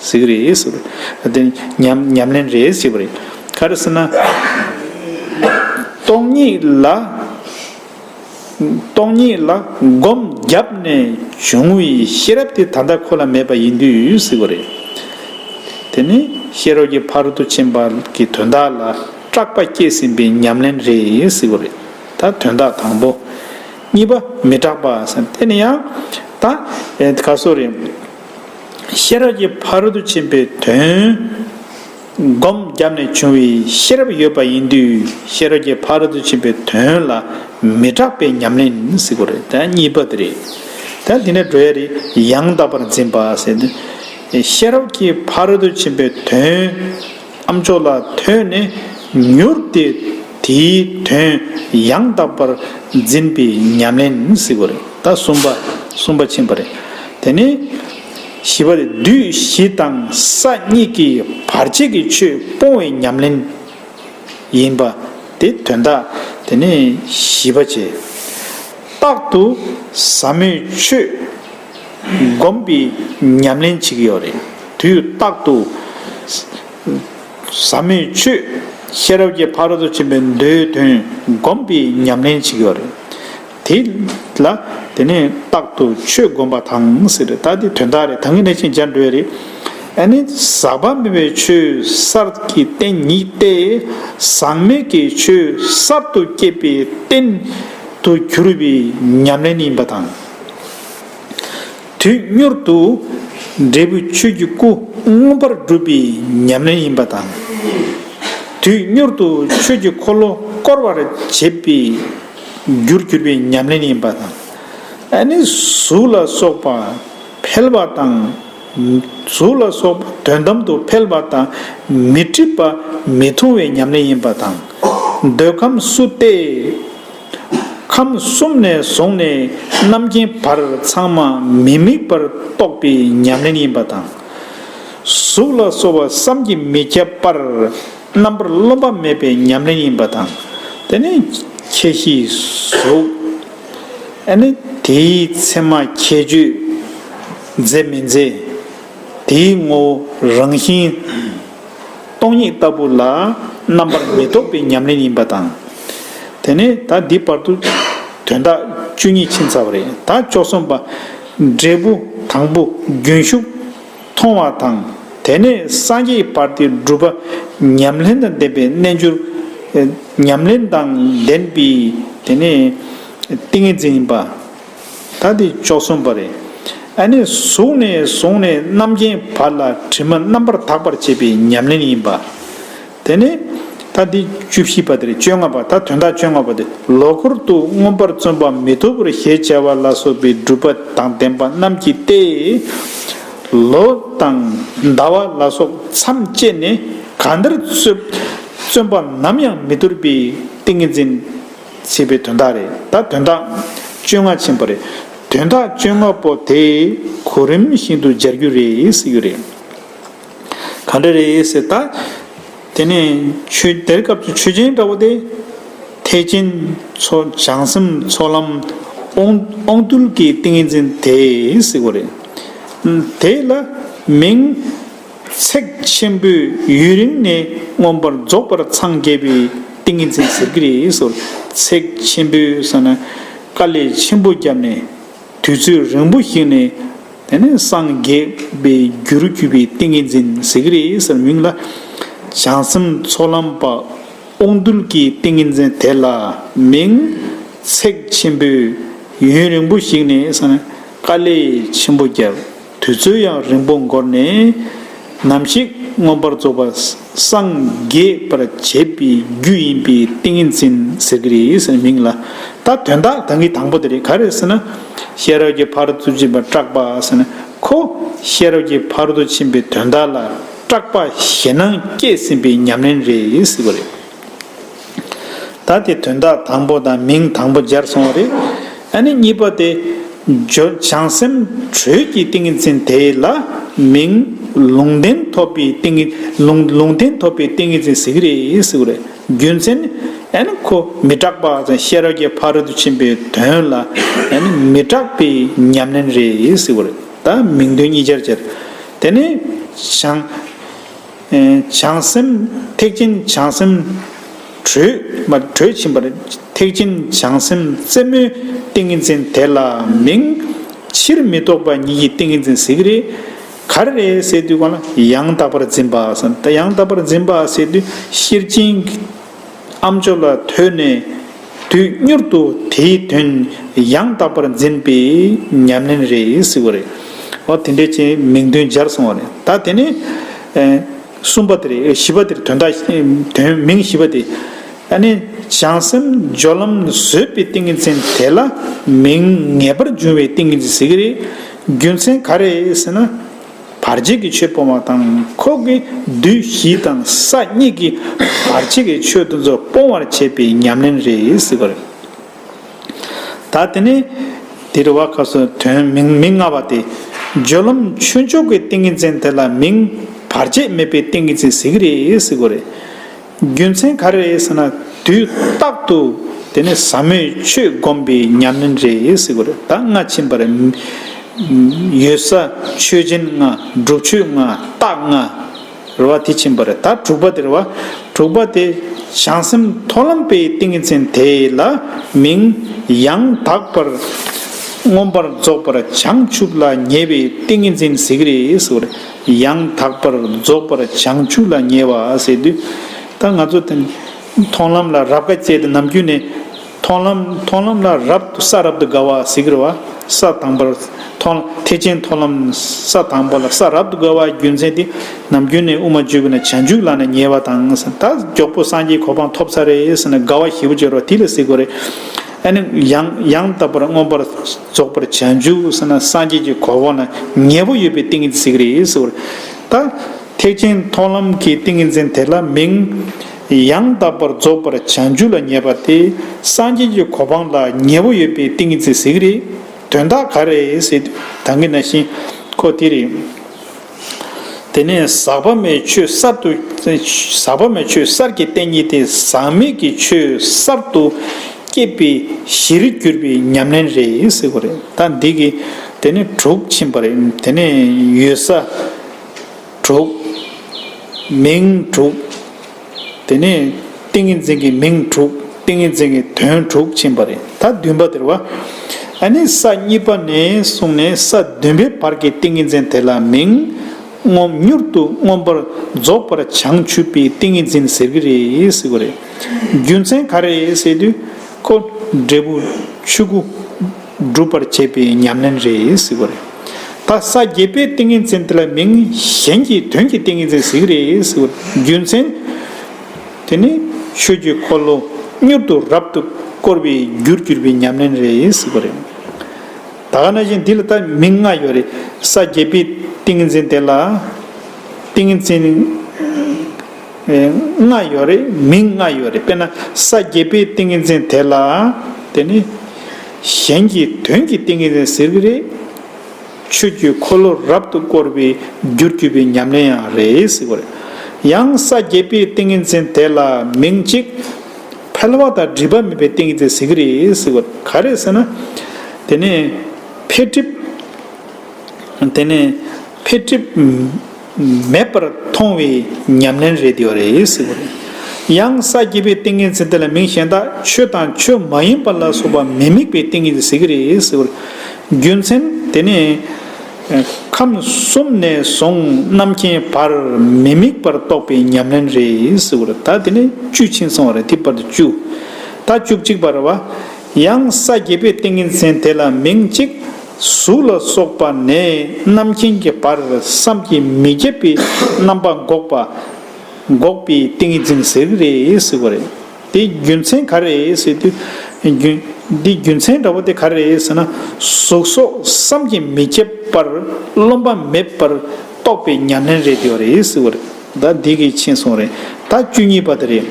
གཟིགས་རེད་ཟེར་བ་རེད། དེ་ཉམས་ལེན་རེད་ཟེར་བ་རེད། ག་རེ་ཟེར་ན། སྟོང་ཉིད་ལ། སྟོང་ཉིད་ལ་སྒོམ་བརྒྱབ་ནས་བྱུང་བའི་ཤེས་རབ་དེ་ད་ལྟ་ཁོ་ལ་མེད་པ་ཡིན་དུས་ཟེར་བ་རེད། དེ་ནི་ཤེས་རབ་ཀྱི་ཕ་རོལ་ཏུ་ཕྱིན་པ་གྱི་དོན་དག་ལ་སྐྲག་པ་སྐྱེས་ཟིན་པའི་ཉམས་ལེན་རེད་ཟེར་བ་རེད། ད་དོན་དག་དང་པོ། གཉིས་པ་མི་སྐྲག་པ་ཟེར་ན་དེ་ནི་ཡང་ད་ག་སོ་རེད། ཤེས་རབ་ཀྱི་ཕ་རོལ་ཏུ་ཕྱིན་པའི་དོན། སྒོམ་བརྒྱབ་ནས་བྱུང་བའི་ཤེས་རབ་ཡོད་པ་ཡིན་དུས་ཤེས་རབ་ཀྱི་ཕ་རོལ་ཏུ་ཕྱིན་པའི་དོན་ལ་མི་སྐྲག་པའི་ཉམས་ལེན་གཟིགས་པ་རེད། གཉིས་པ་དེ་རེད། དེ་ནས་འགྲོ་ཡ་རེ་ཡང་དག་པར་འཛིན་པ། ཤེས་རབ་ཀྱི་ཕ་རོལ་ཏུ་ཕྱིན་པའི་དོན། ཨ་མཆོག་ལ་ཐོས་ནས་མྱུར་དེ་དེའི་དོན་ཡང་དག་པར་འཛིན་པའི་ཉམས་ལེན་གཟིགས་པ་རེད་ད་གསུམ་པ་གསུམ་པ་ཕྱིན་པ་རེད། དེ་ནས་བཞི་པ་རེད་དུས་བཞི་དང་ས་གཉིས་ཀྱི་བར་ཆད་ཀྱི་ཆོས་སྤོང་བའི་ཉམས་ལེན་ཡིན་པ་དེ་དོན་དག་དེ་ནས་བཞི་པ་བྱས། རྟག་ཏུ་ཟབ་མོའི་ཆོས། སྒོམ་པའི་ཉམས་ལེན་བྱེད་ཀྱི་ཡོད་རེད། དུས་རྟག་ཏུ། ཟབ་མོའི་ཆོས། ཤེས་རབ་ཀྱི་ཕ་རོལ་ཏུ་ཕྱིན་པའི་མདོའི་དོན་སྒོམ་པའི་ཉམས་ལེན་བྱེད་ཀྱི་ཡོད་རེད། དེ་ལ། དེ་ནས་རྟག་ཏུ་ཆོས་སྒོམ་པ་དང་ཟེར་རེད་ད་འདི་དོན་དག་རེད་ད་ངས་ནས་ཅིག་སྦྱར་འགྲོ་ཡི་རེད། ཨ་ནི། ཟག་པ་མེད་པའི་ཆོས་གསར་གྱི་རྟེན་ཉིད་དེ། ཟག་མེད་ཀྱི་ཆོས་གསར་དུ་སྐྱེས་པའི་རྟེན། དུ་གྱུར་པའི་ཉམས་ལེན་ཡིན་པ་དང། དུས་མྱུར་དུ་འབྲས་བུ་ཆོས་ཀྱི་སྐུ་མངོན་པར་འགྲུབ་པའི་ཉམས་ལེན་ཡིན་པ་དང། དུས་མྱུར་དུ་ཆོས་ཀྱི་འཁོར་ལོ་བསྐོར་བར་བྱེད་པའི་རྒྱུར་གྱུར་པའི་ཉམས་ལེན་ཡིན་པ་དང། ནི་གཟུགས་ལ་སོགས་པ་འཕེལ་བ་དང། གཟུགས་ལ་སོགས་པ་དོན་དམ་དུ་འཕེལ་བ་དང་མི་འཁྲིག་པ་མི་མཐོང་བའི་ཉམས་ལེན་ཡིན་པ་དང། འདོད་ཁམས་སུ་སྟེ། ཁམས་གསུམ་ནས་བཟུང་ནས་རྣམ་མཁྱེན་བར་ཚང་མ་མི་དམིགས་པར་རྟོགས་པའི་ཉམས་ལེན་ཡིན་པ་དང། གཟུགས་ལ་སོགས་པ་བསམ་གྱིས་མི་ཁྱབ་པར་རྣམ་པར་རློམ་པ་མེད་པའི་ཉམས་ལེན་ཡིན་པ་དང། དེ་ནི་ཁྱད་གཞིའི་གཟུགས། ནི་དེའི་མཚན་མ་ཁྱད་གཅོད་མཛད་མི་མཛད། དེའི་ངོ་བོ་རང་བཞིན། སྟོང་ཉིད་ལྟ་བུ་ལ། རྣམ་པར་མི་རྟོག་པའི་ཉམས་ལེན་ཡིན་པ་དང། དེ་ནས་ད་འདི་བར་དུ། དོན་དག་བཅུ་གཉིས་ཕྱིན་ཚར་བ་རེད་ད་བཅོ་གསུམ་པ། འབྲས་བུ་དང་པོ་རྒྱུན་ཞུགས་མཐོང་བ་དང། དེ་ནས་སངས་རྒྱས་ཀྱི་བར་དེ་བསྒྲུབ་པ། ཉམས་ལེན་དང་ལྡན་པའི་རྣལ་འབྱོར། ཉམས་ལེན་དང་ལྡན་པའི་དེ་ནས་ཏིང་ངེ་འཛིན་ཡིན་པ། ད་དེ་བཅོ་གསུམ་པ་རེད། ཨ་ནི་གཟུགས་ནས་བཟུང་ནས་རྣམ་མཁྱེན་བར་ལ་དྲི་མ་རྣམ་པར་དག་པར་བྱེད་པའི་ཉམས་ལེན་ཡིན་པ། དེ་ནས་ད་དེ་བཅུ་བཞི་པ་དེར་བཅོ་ལྔ་པ་ད་དོན་དག་བཅོ་ལྔ་པ་དེ་ལོ་འཁོར་དུ་མངོན་པར་བརྩོན་པ་མི་ཐུབ་པར་ཞེས་བྱ་བ་ལ་སོགས་པའི་སྒྲུབ་པ་དང་ལྡན་པ་རྣམས་ཀྱིས་ཏེ། ལོ་དང་ཟླ་བ་ལ་སོགས་མཚམས་བཅད་ནས་གང་འདིར་བརྩོན་པ་ནམ་ཡང་མི་འདོར་པའི་ཏིང་ངེ་འཛིན། བྱེད་པའི་དོན་དག་རེད་ད་དོན་དག་བཅོ་ལྔ་ཆེན་པོ་རེད་དོན་དག་བཅོ་ལྔ་པོ་དེ་གོ་རིམ་བཞིན་དུ་སྦྱར་རྒྱུ་རེད་ཟེར་གྱི་རེད། ག་འདྲ་རེད་ཟེར་ད། དེ་ནས་ཆོས་དེར་སྐབས་སུ་ཆོས་ཅན་འདྲ་བོ་དེ། ཐེག་ཆེན་མཚོ་བྱང་སེམས་ཚོགས་ལམ་དབང་རྟུལ་གྱི་ཏིང་ངེ་འཛིན་དེ་ཟེར་གོ་རེད། དེ་ལ་མིང། ཚེག་ཆེན་པོའི་ཡུན་རིང་ནས་མངོན་པར་རྫོགས་པར་འཚང་རྒྱ་བའི་ཏིང་ངེ་འཛིན་ཟེར་གྱི་རེད་ཟེར། ཚེག་ཆེན་པོའི་ཟེར་ན་དཀའ་ལས་ཆེན་པོ་བརྒྱབ་ནས་དུས་ཚོད་རིང་པོ་ཞིག་ནས་དེ་ནས་སངས་རྒྱས་པའི་རྒྱུ་རུ་གྱུར་པའི་ཏིང་ངེ་འཛིན་ཟེར་གྱི་རེད་ཟེར་མིང་ལ། བྱང་སེམས་ཚོགས་ལམ་པ་དབང་རྟུལ་གྱིས་ཏིང་ངེ་འཛིན་དེ་ལ་མིང། ཚེག་ཆེན་པོའི་ཡུན་རིང་པོ་ཞིག་ནས་ཟེར་ན་དཀའ་ལས་ཆེན་པོ་བརྒྱབ། དུས་ཚོད་ཡང་རིང་པོ་འགོར་ནས་ནམ་ཞིག་མངོན་པར་རྫོགས་པ་སངས་རྒྱས་པར་བྱེད་པའི་རྒྱུ་ཡིན་པའི་ཏིང་ངེ་འཛིན་ཟེར་གྱི་རེད་ཟེར་ནས་མིང་ལ་ད་དོན་དག་དང་གི་དང་པོ་དེ་རེད་ག་རེད་ཟེར་ན། ཤེས་རབ་ཀྱི་བར་དུ་ཕྱིན་པར་སྐྲག་པ་ཟེར་ནས་ཁོ་ཤེས་རབ་ཀྱི་བར་དུ་ཕྱིན་པའི་དོན་དག་ལ་སྐྲག་པ་ཞེ་སྣང་སྐྱེས་ཟིན་པའི་ཉམས་ལེན་རེད་ཟེར་གི་རེད། ད་དེ་དོན་དག་དང་པོ་དང་མིང་དང་པོ་སྦྱར་སོང་བ་རེད། ཨ་ནི་གཉིས་པ་དེ། བྱང་སེམས་དྲོད་ཀྱི་ཏིང་ངེ་འཛིན་དེ་ལ་མིང་ལུང་བསྟན་ཐོབ་པའི་ཏིང། ལུང་བསྟན་ཐོབ་པའི་ཏིང་ངེ་འཛིན་ཟེར་གྱི་རེད་ཟེར་བ་རེད། རྒྱུ་མཚན་ནི། ཨ་ནི་ཁོ་མི་སྐྲག་པ་དང་ཤེས་རབ་ཀྱི་ཕ་རོལ་ཏུ་ཕྱིན་པའི་དོན་ལ་ཨ་ནི་མི་སྐྲག་པའི་ཉམས་ལེན་རེད་ཟེར་བ་རེད། ད་མིང་དོན་གཉིས་སྦྱར་སྦྱར། དེ་ནས་བྱང། བྱང་སེམས་ཐེག་ཆེན་བྱང་སེམས་དྲོད། ཕྱིན་པར་ཐེག་ཆེན་བྱང་སེམས་རྩེ་མོའི་ཏིང་ངེ་འཛིན་དེ་ལ་མིང། ཕྱིར་མི་ལྡོག་པ་ཉིད་ཀྱི་ཏིང་ངེ་འཛིན་ཟེར་གྱི་རེད། གར་རེ་སའི་དུས་གོང་ལ་ཡང་དག་པར་འཛིན་པ། ཡང་དག་པར་འཛིན་པ་སའི་དུས་ཤེར་ཕྱིན། ཨ་མཆོག་ལ་ཐོས་ནས་དུས་མྱུར་དུ་དེའི་དོན་ཡང་དག་པར་འཛིན་པའི་ཉམས་ལེན་རེ་གཟིགས་བ་རེད། འོ་དེ་འདྲའི་ཅན་མིང་དོན་སྦྱར་སོང་བ་རེད། ད་དེ་ནས་གསུམ་པ་དེར་བཞི་པ་དེར་དོན་དག་དོན་མིང་བཞི་པ་དེ། ད་ནི་བྱང་སེམས་སྦྱོར་ལམ་བཟོད་པའི་ཏིང་ངེ་འཛིན་དེ་ལ་མིང་ངེས་པར་འབྱུང་བའི་ཏིང་ངེ་འཛིན་ཟེར་གྱི་རེད། རྒྱུ་མཚན་ག་རེད་ཟེར་ན། བར་ཆད་ཀྱི་ཆོས་སྤོང་བ་དང་ཁོག་གི་བདུད་བཞི་དང་ས་གཉིས་ཀྱི་བར་ཆད་ཀྱི་ཆོས་དུ་ཚོད་སྤོང་བར་བྱེད་པའི་ཉམས་ལེན་རེ་གཟིགས་པར་གྱིས། ད་དེ་ནས་དེར་བ་ཁ་སོ་དོན་མིང་མི་མངའ་བ་སྟེ། སྦྱོར་ལམ་ཆོས་མཆོག་གི་ཏིང་ངེ་འཛིན་དེ་ལ་མིང་བར་ཆད་མེད་པའི་ཏིང་ངེ་འཛིན་གཟིགས་རེ་གཟིགས་པར་གྱིས། རྒྱུ་མཚན་ག་རེ་རེད་ཟེར་ན་དུས་རྟག་ཏུ་དེ་ནི་ཟབ་མོའི་ཆོས་བསྒོམ་པའི་ཉམས་ལེན་རེད་ཟེར་གི་རེད་ད་སྔ་ཕྱིན་པར་ཡོད་ས་ཆོས་སྦྱིན་ལྔ་སྒྲུབ་མཆོད་ལྔ་རྟགས་ལྔ་རེད་བ་དེ་ཕྱིན་པ་རེད་ད་དྲུག་པ་དེ་རེད་བ་དྲུག་པ་དེ་བྱང་སེམས་མཐོ་ལམ་པའི་ཏིང་ངེ་འཛིན་དེ་ལ་མིང་ཡང་དག་པར་མངོན་པར་རྫོགས་པར་བྱང་ཆུབ་ལ་ཉེ་བའི་ཏིང་ངེ་འཛིན་ཟེར་གི་རེད་ཟེར་གི་རེད། ཡང་དག་པར་རྫོགས་པར་བྱང་ཆུབ་ལ་ཉེ་བ་ཟེར་དུས། ད་ང་ཚོ་མཐོང་ལམ་ལ་རབ་དགའ་བཅས་དེ་ནམ་རྒྱུན་ནས། མཐོང་ལམ་མཐོང་ལམ་ལ་རབ་ཏུ་ས་རབ་ཏུ་དགའ་བ་གཟིགས་རེ་བ། ས་དང་པོར་མཐོང་ཐེག་ཆེན་མཐོང་ལམ་ས་དང་པོ་ལ་ས་རབ་ཏུ་དགའ་བ་རྒྱུ་མཚན་དེ་ནམ་རྒྱུན་ནས་དབུ་མ་བརྗོད་དགོས་ན་བྱང་ཆུབ་ལ་ན་ཉེ་བ་དང་ད་མགྱོགས་པོ་སངས་རྒྱས་གོ་འཕང་ཐོབ་ཚར་རེ་ཟེར་ན་དགའ་བ་ཞེ་པོ་ཅོར་བ་དེ་ལ་གཟིགས་དགོས་རེད། ཨ་ནི་ཡང་ཡང་དག་པར་མངོན་པར། རྫོགས་པར་བྱ་འཇུག་ཟེར་ན་སངས་རྒྱས་ཀྱི་གོ་འོག་ན་ཉེ་བོ་ཡོད་པའི་ཏིང་ངེ་འཛིན་ཞིག་རེད་ཟེར་བ་རེད། ད་ཐེག་ཆེན་མཐོང་ལམ་གྱི་ཏིང་ངེ་འཛིན་དེ་ལ་མིང། ཡང་དག་པར་རྫོགས་པར་བྱ་འཇུག་ལ་ཉེ་བ་དེ་སངས་རྒྱས་ཀྱི་གོ་འཕང་ལ་ཉེ་བོ་ཡོད་པའི་ཏིང་ངེ་འཛིན་ཞིག་རེད། དོན་དག་ག་རེ་ཟེར་དང་གི་ན་ཞིང་ཁོ་དེ་རེད། དེ་ནས་ཟག་པ་མེད་ཆོས་གསར་དུ། ཟག་པ་མེད་ཆོས་གསར་གྱི་རྟེན་ཉིད་དེ་ཟག་མེད་ཀྱི་ཆོས་གསར་དུ་སྐྱེད་པའི་གཞིར་གྱུར་པའི་ཉམས་ལེན་རེད་ཟེར་བ་རེད་ད་འདི་གི་དེ་ནས་དྲུག་ཕྱིན་པ་རེད་དེ་ནས་ཡོད་ས་དྲུག། མིང་དྲུག། དེ་ནས་ཏིང་ངེ་འཛིན་གྱི་མིང་དྲུག་ཏིང་ངེ་འཛིན་གྱི་དོན་དྲུག་བྱིན་པ་རེ་ད་བདུན་པ་དེར་བ། ཨ་ནི་ས་གཉིས་པ་ནས་བཟུང་ནས་ས་བདུན་པའི་བར་གྱི་ཏིང་ངེ་འཛིན་དེ་ལ་མིང། མངོན་མྱུར་དུ་མངོན་པར་རྫོགས་པར་བྱང་ཆུབ་པའི་ཏིང་ངེ་འཛིན་ཟེར་གྱི་རེད་ཟེར་གྱི་རེད། རྒྱུ་མཚན་ག་རེ་ཟེར་དུས། ཁོ། འབྲས་བུ། ཆོས་སྐུ། སྒྲུབ་པར་བྱེད་པའི་ཉམས་ལེན་རེ་གཟིགས་པ་རེད། ད་ས་བརྒྱད་པའི་ཏིང་ངེ་འཛིན་དེ་ལ་མིང་གཞན་གྱི་དོན་གྱི་ཏིང་ངེ་འཛིན་གཟིགས་རེ་གཟིགས་པ་རྒྱུ་མཚན། དེ་ནི་ཆོས་རྒྱུད་འཁོར་ལོ་མྱུར་དུ་རབ་ཏུ་བསྐོར་བའི་རྒྱུར་གྱུར་པའི་ཉམས་ལེན་རེ་གཟིགས་པ་རེད། ད་ག་ན་བཞིན་འདི་ལ་ད་མིང་ལྔ་ཡོད་རེད། ས་བརྒྱད་པའི་ཏིང་ངེ་འཛིན་དེ་ལ་ཏིང་ངེ་འཛིན། ལྔ་ཡོད་རེད་མིང་ལྔ་ཡོད་རེད་དཔེར་ན་ས་བརྒྱད་པའི་ཏིང་ངེ་འཛིན་དེ་ལ་དེ་ནི་གཞན་གྱི་དོན་གྱི་ཏིང་ངེ་འཛིན་ཟེར་གྱི་རེད། ཆོས་བརྒྱུད་འཁོར་ལོ་རབ་ཏུ་བསྐོར་བའི་རྒྱུར་གྱུར་པའི་ཉམས་ལེན་ཡང་རེད་ཟེར་གྱི་རེད། ཡང་ས་བརྒྱད་པའི་ཏིང་ངེ་འཛིན་དེ་ལ་མིང་གཅིག་ཕལ་བ་དང་སྒྲིབ་པ་མེད་པའི་ཏིང་ངེ་འཛིན་ཟེར་གྱི་རེད་ཟེར་གྱི་རེད་ག་རེ་ཟེར་ན། དེ་ནི་འཕེལ་འགྲིབ། མེད་པར་མཐོང་བའི་ཉམས་ལེན་རེད་དེ་བ་རེད། ཡང་ས་བརྒྱད་པའི་ཏིང་ངེ་འཛིན་དེ་ལ་མིང་གཞན་དག་ཆོས་དང་ཆོས་མ་ཡིན་པ་ལ་སོགས་པ་མི་དམིགས་པའི་ཏིང་ངེ་འཛིན་ཟེར་གྱི་རེད། རྒྱུ་མཚན་དེ་ནི། ཁམས་གསུམ་ནས་བཟུང་རྣམ་མཁྱེན་བར་མི་དམིགས་པར་རྟོགས་པའི་ཉམས་ལེན་རེད། ད་དེ་ནི་བཅུ་ཕྱིན་སོང་བ་རེད་དེ་བར་དུ་བཅུ། ད་བཅུ་གཅིག་པ་རེད་བ། ཡང་ས་བརྒྱད་པའི་ཏིང་ངེ་འཛིན་དེ་ལ་མིང་གཅིག། གཟུགས་ལ་སོགས་པ་ནས་རྣམ་མཁྱེན་གྱི་བར་བསམ་གྱིས་མི་ཁྱབ་པའི་རྣམ་པ་འགོག་པ། འགོག་པའི་ཏིང་ངེ་འཛིན་ཟེར་གི་རེད་ཟེར་བ་རེད། དེ་རྒྱུ་མཚན་ག་རེད་ཟེར་དུས། རྒྱུ། དེ་རྒྱུ་མཚན་འདྲ་བོ་དེ་ག་རེད་ཟེར་ན། གཟུགས་སོགས་བསམ་གྱིས་མི་ཁྱབ་པར་རློམ་པ་མེད་པར་རྟོགས་པའི་ཉམས་ལེན་རེད་ཟེར་བ་རེད། ཟླ་འདི་གི་ཕྱིན་སོང་རེད་ད་བཅུ་གཉིས་པ་དེ་རེད།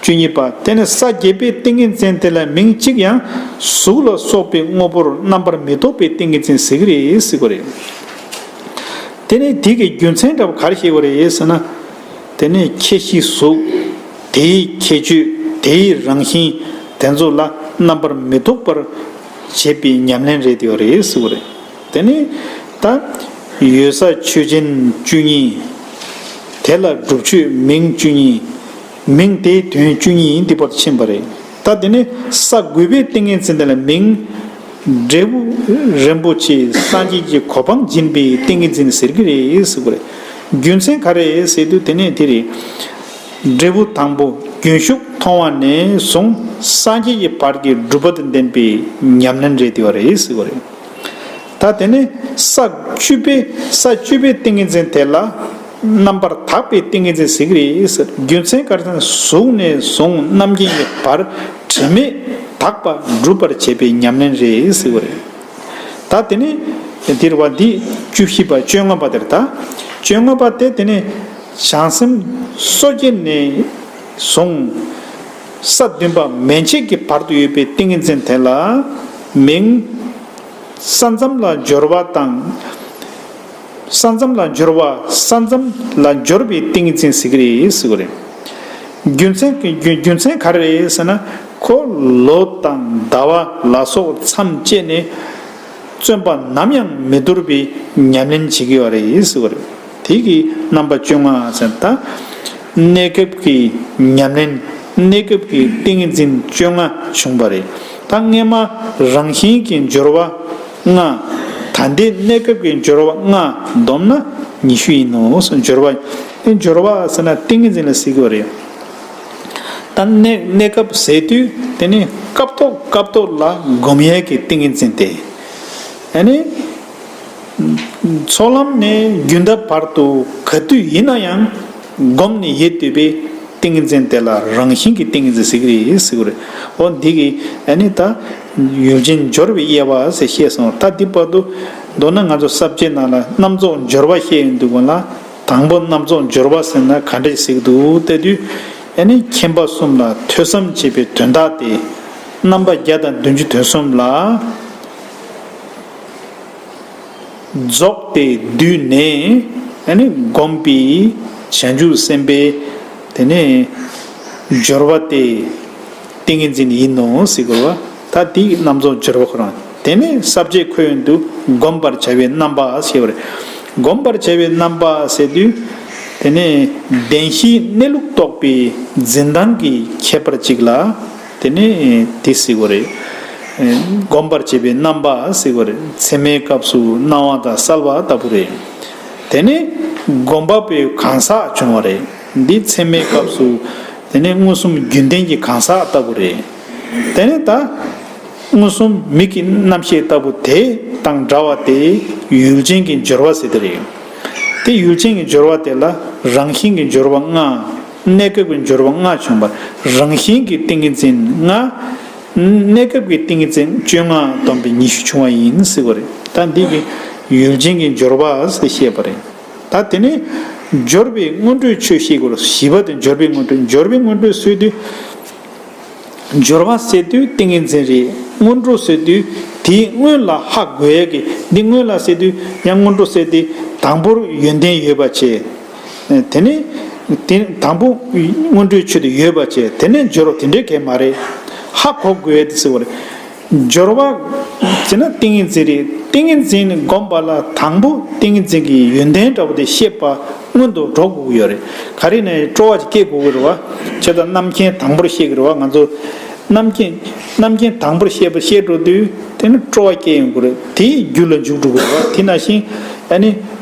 བཅུ་གཉིས་པ་དེ་ནི་ས་བརྒྱད་པའི་ཏིང་ངེ་འཛིན་དེ་ལ་མིང་གཅིག་ཡང་གཟུགས་ལ་སོགས་པའི་དངོས་པོར་རྣམ་པར་མི་རྟོག་པའི་ཏིང་ངེ་འཛིན་ཟེར་གི་རེད་ཟེར་གོ་རེད། དེ་ནི་དེ་གི་རྒྱུ་མཚན་འདྲ་བ་ག་རེ་ཤེས་གོ་རེད་ཟེར་ན། དེ་ནི་ཁྱད་གཤིས་གཟུགས་དེའི་ཁྱད་ཆོས་དེའི་རང་བཞིན་དེ་ཚོ་ལ་རྣམ་པར་མི་རྟོག་པར་བྱེད་པའི་ཉམས་ལེན་རེད་དེ་ཡོད་རེད་ཟེར་གོ་རེད། དེ་ནི་ད་ཡོད་ས་ཆོས་ཅན་བཅུ་གཉིས། དེ་ལ་སྒྲུབ་ཆོས་མིང་བཅུ་གཉིས། མིང་དེའི་དོན་བཅུ་གཉིས་ཡིན་ཏེ་བར་དུ་ཕྱིན་པ་རེད། ད་དེ་ནི་ས་དགུ་པའི་ཏིང་ངེ་འཛིན་དེ་ལ་མིང། འབྲས་བུ་རིན་པོ་ཆེ་སངས་རྒྱས་ཀྱི་གོ་འཕང་སྦྱིན་པའི་ཏིང་ངེ་འཛིན་ཟེར་གྱི་རེད་ཟེར་གྱི་རེད། རྒྱུ་མཚན་ག་རེད་ཟེར་དུས་དེ་ནས་དེ་རེད། འབྲས་བུ་དང་པོ་རྒྱུན་ཞུགས་མཐོང་བ་ནས་བཟུང་སངས་རྒྱས་ཀྱི་བར་གྱི་སྒྲུབ་པ་དང་ལྡན་པའི་ཉམས་ལེན་རེད་དེ་བ་རེད་ཟེར་གྱི་རེད། ད་དེ་ནས་ས་བཅུ་པའི་ས་བཅུ་པའི་ཏིང་ངེ་འཛིན་དེ་ལ་རྣམ་པར་དག་པའི་ཏིང་ངེ་འཛིན་ཟེར་གྱི་རེད་རྒྱུ་མཚན་གར་ན་གཟུགས་ནས་བཟུང་རྣམ་མཁྱེན་གྱི་བར་དྲི་མེད་དག་པ་འགྲུབ་པར་བྱེད་པའི་ཉམས་ལེན་རེད་ཟེར་བ་རེད། ད་དེ་ནས་འདིར་བ་འདི་བཅུ་བཞི་པ་བཅོ་ལྔ་པ་དེར་ད་བཅོ་ལྔ་པ་སྟེ་དེ་ནས་བྱང་སེམས་སོ་སྐྱེ་ནས་བཟུང། ས་བདུན་པ་མན་ཆད་ཀྱི་བར་དུ་ཡོད་པའི་ཏིང་ངེ་འཛིན་དེ་ལ་མིང། ས་མཚམས་ལ་སྦྱོར་བ་དང། ས་མཚམས་ལ་སྦྱོར་བ་ས་མཚམས་ལ་སྦྱོར་བའི་ཏིང་ངེ་འཛིན་ཟེར་གི་རེད་ཟེར་གི་རེད། རྒྱུ་མཚན་རྒྱུ་མཚན་ག་རེ་རེད་ཟེར་ན་ཁོ་ལོ་དང་ཟླ་བ་ལ་སོགས་མཚམས་བཅད་ནས་བརྩོན་པ་ནམ་ཡང་མི་འདོར་བའི་ཉམས་ལེན་བྱེད་ཀྱི་ཡོད་རེད་ཟེར་གི་རེད། དེ་གི་རྣམ་པ་བཅོ་ལྔ་ཙམ་དང། གནས་སྐབས་ཀྱི་ཉམས་ལེན་གནས་སྐབས་ཀྱི་ཏིང་འཛིན་བཅོ་ལྔ་བྱུང་བ་རེད། ད་སྔས་མ་རང་བཞིན་གྱི་སྦྱོར་བ་ལྔ། ད་ལྟའི་གནས་སྐབས་ཀྱི་སྦྱོར་བ་ལྔ་བསྡོམས་ན་ཉི་ཤུ་ཡིན་ནོ། སྦྱོར་བ་དེ་སྦྱོར་བ་ཟེར་ན་ཏིང་ངེ་འཛིན་ལ་གཟིགས་པ་རེད། ད་གནས་གནས་སྐབས་ཟེར་དུས་དེ་ནི་སྐབས་ཐོག་སྐབས་ཐོག་ལ་བསྒོམ་ཡས་ཀྱི་ཏིང་ངེ་འཛིན་ཏེ། ཡ་ནི། ཚོགས་ལམ་ནས་རྒྱུན་འདེབས་བར་དུ་ག་དུས་ཡིན་ན་ཡང་བསྒོམས་ནས་ཡེ་འདོད་པའི་ཏིང་ངེ་འཛིན་དེ་ལ་རང་བཞིན་གྱི་ཏིང་ངེ་འཛིན་ཟེར་གྱི་རེད་ཟེར་གྱི་རེད། འོ་འདི་གི་ཨ་ནི་ད་ཡུལ་ཅན་སྦྱོར་བའི་དབྱེ་བ་ཟེར་བཤད་སོང་ད་འདི་བར་དུ་མདོར་ན་ང་ཚོ་གསར་བརྗེའི་ནང་ལ་རྣམ་རྫོགས་སྦྱོར་བ་བཤད་ཡོད་འདུག་བ་ལ་དང་པོ་རྣམ་རྫོགས་སྦྱོར་བ་ཟེར་ན་ག་འདྲས་ཟེར་གྱི་འདུག་བལྟ་དུས་ཨ་ནི་མཁྱེན་པ་གསུམ་ལ་ཐོས་བསམ་བྱས་པའི་དོན་དག་སྟེ། རྣམ་པ་བརྒྱ་དང་བདུན་ཅུ་དོན་གསུམ་ལ། རྫོགས་པའི་དུས་ནས་བསྒོམས་པའི་ཞལ་འཇུག་སེམས་དཔའི་དེ་ནས་སྦྱོར་བ་སྟེ། ཏིང་ངེ་འཛིན་ཡིན་ནོ་སྲིད་འཁོར་བ་ད་དེ་ཡི་རྣམ་རྫོགས་སྦྱོར་བ་ཁོ་རང་དེ་ནས་ཟབ་བཅས་ཁོད་ཡོན་དུ་བསྒོམ་པར་བྱ་བའི་རྣམ་པ་ཞེས་པར། བསྒོམ་པར་བྱ་བའི་རྣམ་པ་ཟེར་དུས། དེ་ནས་བདེན་བཞིའི་གནས་ལུགས་རྟོགས་པའི་འཛིན་སྟངས་ཀྱི་ཁྱད་པར་གཅིག་ལ། དེ་ནི་དེ་བསྲེག་པ་རེད། སྒོམ་པར་བྱེད་པའི་རྣམ་པ་བསྲེག་པ་རེད། མཚན་མའི་སྐབས་སུ་སྣང་བ་དང་གསལ་བ་ལྟ་བུ་རེད། དེ་ནི་སྒོམ་པ་པོའི་གང་ཟག་བྱུང་བ་རེད། འདི་མཚན་མའི་སྐབས་སུ། དེ་ནི་མངོན་སུམ་རྒྱུན་ལྡན་གྱི་གང་ཟག་ལྟ་བུ་རེད། དེ་ནི་ད། མངོན་སུམ་མིག་གི་རྣམ་ཤེས་ལྟ་བུ་དེ་དང་འདྲ་བ་དེ་ཡུལ་ཅན་གྱི་སྦྱོར་བ་ཟེར་དེ་རེད། དེ་ཡུལ་ཅན་གྱི་སྦྱོར་བ་དེ་ལ་རང་བཞིན་གྱི་སྦྱོར་བ་ལྔ། གནས་སྐབས་ཀྱི་སྦྱོར་བ་ལྔ་བྱུང་བ། རང་བཞིན་གྱི་ཏིང་ངེ་འཛིན་ལྔ། གནས་སྐབས་ཀྱི་ཏིང་ངེ་འཛིན་བཅོ་ལྔ་བསྡོམས་པས་ཉི་ཤུ་བྱུང་བ་ཡིན་ཟེར་བ་རེད། ད་འདི་གིས་ཡུལ་ཅན་གྱི་སྦྱོར་བ་ཟེར་ཤེས་པ་རེད། ད་དེ་ནས་སྦྱོར་བའི་སྔོན་འགྲོའི་ཆོས་ཤེས་དགོས་ལ་བཞི་པ་དེ་སྦྱོར་བའི་སྔོན་འགྲོ་སྦྱོར་བའི་སྔོན་འགྲོའི་སྲོལ་དུས། སྦྱོར་བ་སད་དུས་ཏིང་ངེ་འཛིན་རེད་སྔོན་འགྲོ་སད་དུས་དེའི་སྔོན་ལ་ཧ་གོ་ཡ་གི་འདི་སྔོན་ལ་སད་དུས་ཡང་སྔོན་འགྲོ་སད་དེ་དང་པོར་ཡོན་ཏན་ཡོད་པ་བྱས། དེ་ནི། དང་པོ། སྔོན་འགྲོའི་ཆོས་དེ་ཡོད་པར་བྱས་དེ་ནས་སྦྱོར་བ་དེ་འདྲའི་གལ་མ་རེད། ཧ་གོ་དགོས་ཟེར་བ་རེད། སྦྱོར་བ། བྱས་ན་ཏིང་ངེ་འཛིན་རེད། ཏིང་ངེ་འཛིན་ནི་བསྒོམས་པ་ལ་དང་པོ་ཏིང་ངེ་འཛིན་གྱི་ཡོན་ཏན་འདྲ་བོ་དེ་ཤེས་པ་སྔོན་དུ་འགྲོ་དགོས་ཀྱི་ཡོད་རེད། ག་རེ་ནས་སྤྲོ་བ་ཅིག་སྐྱེ་དགོས་ཀྱི་རེད་བ། བྱས་ཙང་རྣམ་མཁྱེན་དང་པོར་ཤེས་ཀྱི་རེད་བ་ང་ཚོ། རྣམ་མཁྱེན། རྣམ་མཁྱེན་དང་པོར་ཤེས་པ་ཤེས་འགྲོ་དུས་དེ་ནི་སྤྲོ་བ་སྐྱེ་ཡོང་དགོས་རེད། དེའི་རྒྱུ་ལ་འཇུག་འགྲོ་དགོས་རེད་བ། དེས་ན་ཤིང། ཨ་ནི།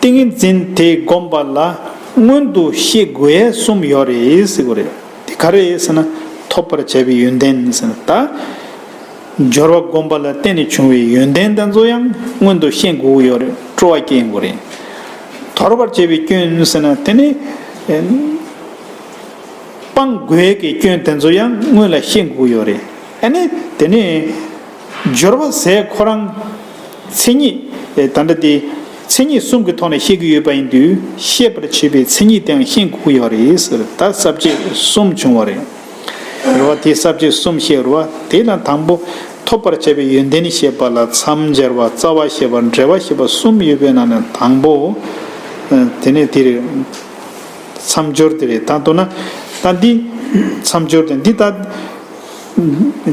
ཏིང་འཛིན་དེ་བསྒོམ་པ་ལ་མངོན་དུ་ཤེས་དགོས་གསུམ་ཡོད་རེད་ཟེར་གོ་རེད། དེ་ག་རེད་ཟེར་ན་ཐོབ་པར་བྱ་བའི་ཡོན་ཏན་ཟེར་ན་ད། སྦྱོར་བ་བསྒོམ་པ་ལ་བརྟེན་ནས་བྱུང་བའི་ཡོན་ཏན་དེ་ཚོ་ཡང་མངོན་དུ་ཤེས་དགོས་ཡོད་རེད་སྤྲོ་བ་སྐྱེ་དགོས་རེད། དོར་བར་བྱེད་པའི་སྐྱོན་ཟེར་ན་དེ་ནི། སྤང་དགོས་ཀྱི་སྐྱོན་དེ་ཚོ་ཡང་སྔོན་ལ་ཤེས་དགོས་ཡོད་རེད། ཨ་ནི་དེ་ནི། སྦྱོར་བ་ཟས་ཁོ་རང། མཚན་ཉིད། ད་འདྲ་སྟེ། མཚན་ཉིད་གསུམ་གྱི་ཐོག་ནས་བཤད་ཀྱི་ཡོད་པ་ཡིན་དུས་ཤེས་པར་བྱེད་པའི་མཚན་ཉིད་དེའང་ཤེས་འགོག་ཡོད་རེད་ཟེར་ད་གསབ་བྱེད་གསུམ་བྱུང་བ་རེད། རེ་བ་དེ་གསབ་བྱེད་གསུམ་ཞེས་རོ། དེས་ན་དང་པོ། ཐོབ་པར་བྱ་བའི་ཡོན་ཏན་ཞེས་པ་ལ་མཚམས་སྦྱར་བ་རྩ་བ་ཞེས་པ་འབྲེལ་བ་ཞེས་པ་གསུམ་ཡོད་པའི་ནང་ནས་དང་པོ། དེ་ནས་དེ་རེད། མཚམས་སྦྱོར་དེ་རེད་ད་མདོར་ན། ད་འདི། མཚམས་སྦྱོར་དེ་འདི་ད།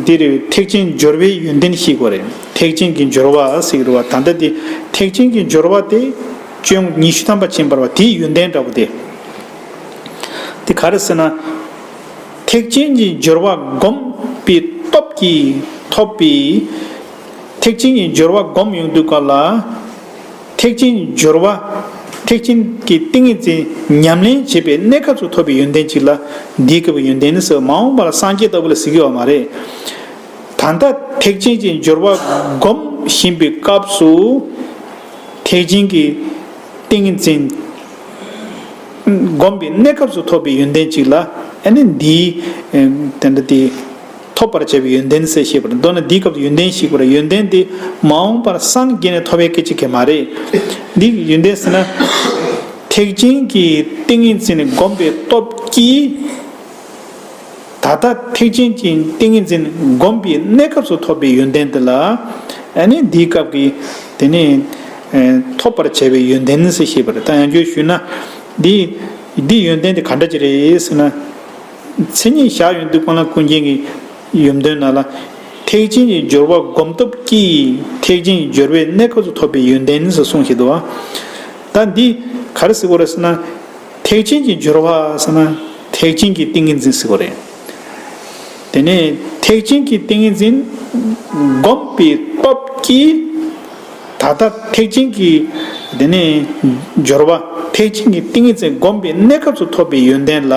འདིར་ཐེག་ཆེན་སྦྱོར་བའི་ཡོན་ཏན་བཤིག་གོ་རེ། ཐེག་ཆེན་གྱི་སྦྱོར་བ་བཤིག་རོ་བ་ད་ལྟ་དེ་ཐེག་ཆེན་གྱི་སྦྱོར་བ་སྟེ། སྤྱོད་ཉི་ཤུ་ཐམ་པ་ཆེན་པར་བ་དེའི་ཡོན་ཏན་འདྲ་བོ་སྟེ། དེ་ག་རེ་ཟེར་ན། ཐེག་ཆེན་གྱི་སྦྱོར་བ་བསྒོམ་པའི་སྟོབས་ཀྱིས་ཐོབ་པའི། ཐེག་ཆེན་གྱི་སྦྱོར་བ་བསྒོམ་ཡོང་དུས་སྐབས་ལ། ཐེག་ཆེན་སྦྱོར་བ། ཐེག་ཆེན་གྱི་ཏིང་ངེ་འཛིན་ཉམས་ལེན་བྱེད་པའི་གནས་སྐབས་སུ་ཐོབ་པའི་ཡོན་ཏན་གཅིག་ལ། འདིའི་སྐབས་ཀྱི་ཡོན་ཏན་ནི་སོ་མ་འོངས་པ་ལ་སངས་རྒྱས་ལྟ་བུ་ལ་གཟིགས་ཡོད་པ་མ་རེད། ད་ལྟ་ཐེག་ཆེན་གྱི་སྦྱོར་བ་སྒོམ་བཞིན་པའི་སྐབས་སུ། ཐེག་ཆེན་གྱི་ཏིང་ངེ་འཛིན་བསྒོམ་པའི་གནས་སྐབས་སུ་ཐོབ་པའི་ཡོན་ཏན་གཅིག་ལ། ཨ་ནི་འདིའི། ཐོབ་པར་བྱ་བའི་ཡོན་ཏན་གསལ་ཤེས་པར་མདོར་ན་འདིའི་སྐབས་སུ་ཡོན་ཏན་ཞིག་པར་ཡོན་ཏན་དེ་མ་འོངས་པར་སངས་རྒྱས་ནས་ཐོབ་པའི་སྐད་ཅིག་གིས་མ་རེད། འདི་ཡོན་ཏན་ཟེར་ན། ཐེག་ཆེན་གྱི་ཏིང་ངེ་འཛིན་བསྒོམ་པའི་སྟོབས་ཀྱིས། ད་ལྟ་ཐེག་ཆེན་གྱི་ཏིང་ངེ་འཛིན་བསྒོམ་པའི་གནས་སྐབས་སུ་ཐོབ་པའི་ཡོན་ཏན་དེ་ལ། ཨ་ནི་འདིའི་སྐབས་ཀྱི་དེ་ནི། ཐོབ་པར་བྱ་བའི་ཡོན་ཏན་གསལ་ཤེས་པར་ད་ཡང་ཁྱོད་ཞུས་ན། འདིའི་ཡོན་ཏན་དེ་ག་འདྲ་ཅིག་རེད་ཟེར་ན། མཚན་ཉིད་བཞག་ཡོད་འདུག་སྤང་བླང་ཀུན་མཁྱེན་གྱི་ཡུམ་དོན་ནཱ་ལ། ཐེག་ཆེན་གྱི་སྦྱོར་བ་བསྒོམ་སྟོབས་ཀྱིས་ཐེག་ཆེན་གྱི་སྦྱོར་བའི་གནས་ཁོ་ཚོ་ཐོབ་པའི་ཡོན་ཏན་ཟེར་གསུངས་ཞེས་དུ་བ། ད་འདི་ག་རེ་ཟེར་དགོས་རེད་ཟེར་ན། ཐེག་ཆེན་གྱི་སྦྱོར་བ་ཟེར་ན་ཐེག་ཆེན་གྱི་ཏིང་ངེ་འཛིན་ཟེར་དགོས་རེད། དེ་ནས་ཐེག་ཆེན་གྱི་ཏིང་ངེ་འཛིན་བསྒོམས་པའི་སྟོབས་ཀྱིས་ད་ལྟ་ཐེག་ཆེན་གྱི། དེ་ནས། སྦྱོར་བ། ཐེག་ཆེན་གྱི་ཏིང་ངེ་འཛིན་བསྒོམ་པའི་གནས་སྐབས་སུ་ཐོབ་པའི་ཡོན་ཏན་ལ།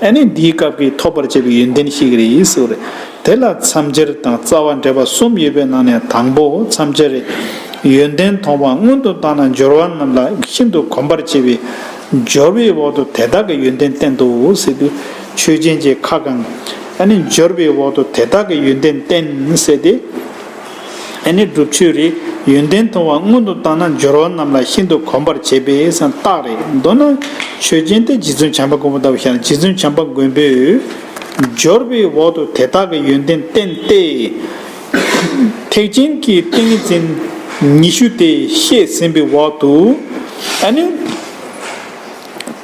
ཨ་ནི་འདིའི་སྐབས་ཀྱི་ཐོབ་པར་བྱེད་པའི་ཡོན་ཏན་ཞིག་རེད་ཟེར་བ་རེད། དེ་ལ་མཚམས་སྦྱར་དང་རྩ་བ་འགྲེལ་པ་གསུམ་ཡོད་པའི་ནང་ནས་དང་པོ་མཚམས་སྦྱར་རེད། ཡོན་ཏན་མཐོང་བ་སྔོན་དུ་བཏང་ན་སྦྱོར་བ་རྣམས་ལ་ཤིན་ཏུ་གོམས་པར་བྱེད་པས། སྦྱོར་བའི་འོག་ཏུ་དེ་དག་གི་ཡོན་ཏན་བསྟན་ཏོ་ཟེར་དུས། ཆོས་ཅན་གྱི་ཁ་བསྐང། ཨ་ནི་སྦྱོར་བའི་འོག་ཏུ་དེ་དག་གི་ཡོན་ཏན་བསྟན་ཟེར་ཏེ། ཨེ་ནི་སྒྲུབ་མཆོད་རེད། ཡོན་ཏན་མཐོང་བ་སྔོན་དུ་བཏང་ན་སྦྱོར་བ་རྣམས་ལ་ཤིན་ཏུ་གོམས་པར་བྱེད་པས་སམ་རྟགས་རེད། མདོར་ན། ཆོས་ཅན་ཏེ་རྗེ་བཙུན་བྱམས་པ་མགོན་པོ་ལྟ་བུ་ཤར་རྗེ་བཙུན་བྱམས་པ་མགོན་པོས། སྦྱོར་བའི་འོག་ཏུ་དེ་དག་གི་ཡོན་ཏན་བསྟན་ཏེ། ཐེག་ཆེན་གྱི་ཏིང་འཛིན་ཉི་ཤུ་དེ་བཤད་ཟིན་པའི་འོག་ཏུ། ཨེ་ནི།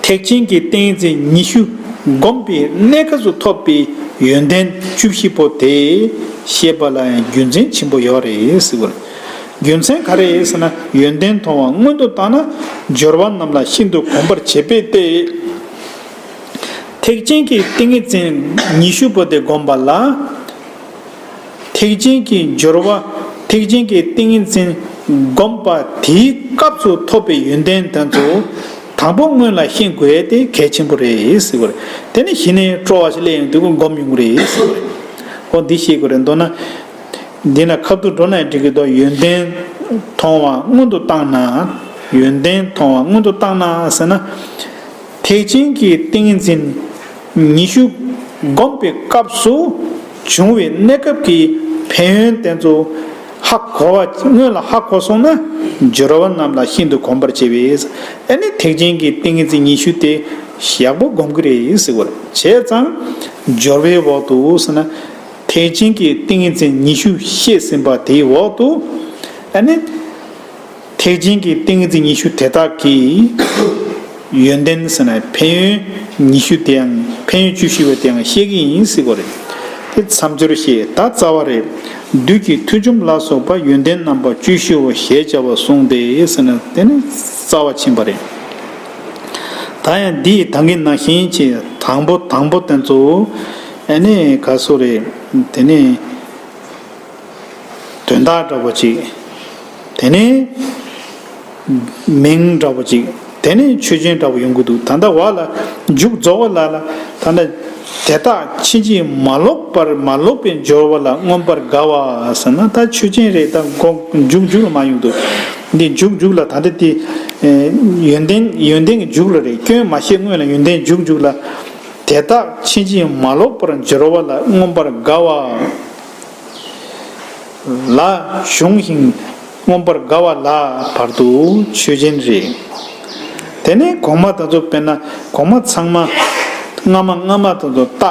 ཐེག་ཆེན་གྱི་ཏིང་འཛིན་ཉི་ཤུ་བསྒོམས་པའི་གནད་ཁ་སུ་ཐོབ་པའི་ཡོན་ཏན་བཅུ་བཞི་པོ་དེ་ཤེས་པ་ལ་ཡང་རྒྱུ་མཚན་ཆེན་པོ་ཡོད་རེད། རྒྱུ་མཚན་ག་རེ་ཟེར་ན་ཡོན་ཏན་མཐོང་བ་སྔོན་དུ་བཏང་ན་སྦྱོར་བ་རྣམས་ལ་ཤིན་ཏུ་གོམས་པར་བྱེད་པས་ཏེ། ཐེག་ཆེན་གྱི་ཏིང་ངེ་འཛིན་ཉི་ཤུ་པོ་དེ་བསྒོམས་པ་ལ། ཐེག་ཆེན་གྱི་སྦྱོར་བ་ཐེག་ཆེན་གྱི་ཏིང་ངེ་འཛིན་བསྒོམ་པ་དེའི་སྐབས་སུ་ཐོབ་པའི་ཡོན་ཏན་དོན་དུ་དང་པོ་སྔོན་ལ་ཤེས་དགོས་ཏེ་གལ་ཆེན་པོ་རེད། དེ་ནས་གཞི་ནས་སྤྲོ་བ་ཞིག་སླེབས་ཡོང་དུས་ཀུན་བསྒོམ་ཡོང་གི་རེད། འོ་འདི་ཤེས་དགོས་རེད་མདོར་ན། འདི་ན་ཁ་ཐུག་འགྲོ་ན་འགྲིག་གི་འདུག་ཡོན་ཏན་མཐོང་བ་སྔོན་དུ་བཏང་ན། ཡོན་ཏན་མཐོང་བ་སྔོན་དུ་བཏང་ན་ཟེར་ན། ཐེག་ཆེན་གྱི་ཏིང་ངེ་འཛིན། ཉི་ཤུ། བསྒོམས་པའི་སྐབས་སུ་འབྱུང་བའི་གནས་སྐབས་ཀྱི་ཕན་ཡོན་བསྟན་ཏོ། ཧ་གོ་བ་སྔོན་ལ་ཧ་གོ་སོང་ན་སྦྱོར་བ་རྣམས་ལ་ཤིན་ཏུ་གོམས་པར་བྱས་པས་ཨེ་ནི་ཐེག་ཆེན་གྱི་ཏིང་ངེ་འཛིན་ཉི་ཤུ་སྟེ་ཞག་པོ་བསྒོམ་གྱི་རེད་ཟེར་བར་བྱས་ཙང། སྦྱོར་བའི་འོག་ཏུ་ཟེར་ན། ཐེག་ཆེན་གྱི་ཏིང་ངེ་འཛིན་ཉི་ཤུ་བཤད་ཟིན་པ་དེའི་འོག་ཏུ་ཨེ་ནི། ཐེག་ཆེན་གྱི་ཏིང་ངེ་འཛིན་ཉི་ཤུ་དེ་དག་གི་ཡོན་ཏན་ཟེར་ན་ཕན་ཡོན་ཉི་ཤུ་དེའང་ཕན་ཡོན་བཅུ་བཞི་བའི་དེའང་བཤད་ཀྱི་ཡིན་སྲིད་པ་རེད་དེ་མཚམས་སྦྱོར་ཞེས་ད་རྩ་བ་རེད། བདུད་ཀྱི་མཐུ་ཆོམ་ལ་སོགས་པ་ཡོན་ཏན་རྣམ་པ་བཅུ་བཞི་བོ་ཞེས་བྱ་བ་གསུངས་ཏེ་ཟེར་ན་དེ་ནི་རྩ་བ་ཕྱིན་པ་རེད། ད་ཡང་འདི་ཡི་དང་གི་ན་གཞན་གྱི་དང་པོ་དང་པོ་དེ་ཚོ་ནི་ག་སུ་རེད་དེ་ནི། དོན་དག་འདྲ་བོ་ཅིག། དེ་ནས། མིང་འདྲ་བོ་ཅིག། དེ་ནས་ཆོས་ཅན་འདྲ་བོ་ཡོང་གི་འདུག་ད་ལྟ་བར་ལ། མཇུག་རྫོགས་པ་ལ་ལ། ད་ལྟ། དེ་དག་ཕྱིན་ཅི་མ་ལོག་པར་མ་ལོག་པའི་སྦྱོར་བ་ལ་མངོན་པར་དགའ་བ་ཟེར་ན་ད་ཆོས་ཅན་རེད་ད་མཇུག་མཇུག་ལ་མ་ཡོང་དུ། འདི་མཇུག་མཇུག་ལ་ད་ལྟ་དེ། ཡོན་ཏན་ཡོན་ཏན་གྱི་མཇུག་ལ་རེད་སྐྱོན་མ་ཤེས་སྔོན་ལ་ཡོན་ཏན་མཇུག་མཇུག་ལ། དེ་དག་ཕྱིན་ཅི་མ་ལོག་པར་སྦྱོར་བ་ལ་མངོན་པར་དགའ་བ། ལ། གཞུང་བཞིན་མངོན་པར་དགའ་བ་ལ་བར་དུ་ཆོས་ཅན་རེ། དེ་ནས་གོང་མ་དང་ཚོ་དཔེར་ན་གོང་མ་ཚང་མ། སྔ་མ་སྔ་མ་དང་ཚོ་རྟགས།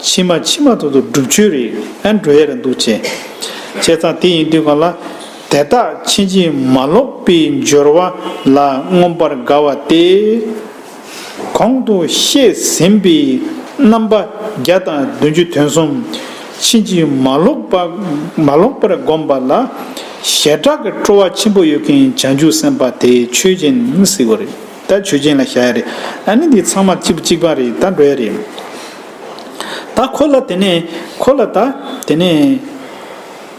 ཕྱི་མ་ཕྱི་མ་དང་ཚོ་སྒྲུབ་ཆོས་རེ་ཨེ་འགྲོ་ཡ་རེ་འདུག་ཅེ། བྱས་ཙང་དེ་ཡིན་དུས་གང་ལ། དེ་དག་ཕྱིན་ཅི་མ་ལོག་པའི་སྦྱོར་བ་ལ་མངོན་པར་དགའ་བ་སྟེ། གོང་དུ་བཤད་ཟིན་པའི་རྣམ་པ་བརྒྱ་དང་བདུན་ཅུ་དོན་གསུམ་ཕྱིན་ཅི་མ་ལོག་པར་བསྒོམས་པ་ལ་ཞེ་དྲག་གི་སྤྲོ་བ་ཆེན་པོ་ཡོད་མཁན་བྱང་ཆུབ་སེམས་དཔའ་དེ་ཆོས་ཅན་སྲིད་པ་རེད་ད་ཆོས་ཅན་ལ་བཞག་ཡ་རེད་ཨ་ནི་འདི་ཚང་མ་གཅིག་པ་རེད་ད་འགྲོ་ཡ་རེད་ད་ཁོ་ལ་དེ་ནས་ཁོ་ལ་ད་དེ་ནས།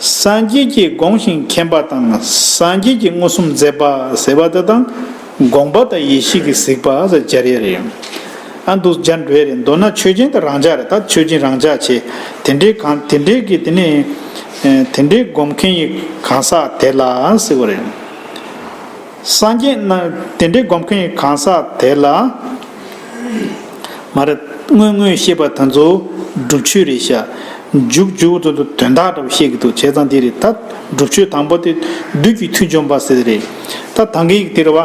སངས་རྒྱས་ཀྱིས་དགོངས་ཤིང་མཁྱེན་པ་དང་སངས་རྒྱས་ཀྱིས་མངོན་སུམ་མཛད་པ་ཟེར་བ་འདི་དང་དགོངས་པ་དང་ཡེ་ཤེས་ཀྱིས་གཟིགས་པ་ཟེར་སྦྱར་ཡ་རེད་ཨང། ཨ་འདུག་སྦྱར་འགྲོ་ཡ་རེད་མདོར་ན་ཆོས་ཅན་དང་རང་འཇགས་རེད་ད་ཆོས་ཅན་རང་འཇགས་བྱས་དེ་འདྲའི་གང་དེ་འདྲའི་གི་དེ་ནི། དེ་འདྲའི་སྒོམ་མཁན་ཡི་གང་ཟག་དེ་ལ་ཟེར་བ་རེད། སངས་རྒྱས་རྣམས་དེ་འདྲའི་བསྒོམ་མཁན་གང་ཟག་དེ་ལ། མ་རེད། དངོས་དངོས་ཤེས་པ་དང་ཚོ་སྒྲུབ་ཆོས་རེད་ཤག། འཇུག་འཇུག་ཚོ་དོན་དག་འདྲ་པོ་བཤད་གི་འདུག་བྱས་ཙང་དེ་རེད་ད། སྒྲུབ་ཆོས་དང་པོ་དེ་བདུད་ཀྱི་མཐུ་འཇོམས་པ་ཟེར་དེ་རེད། ད་དང་གི་ཡིག་དེར་བ།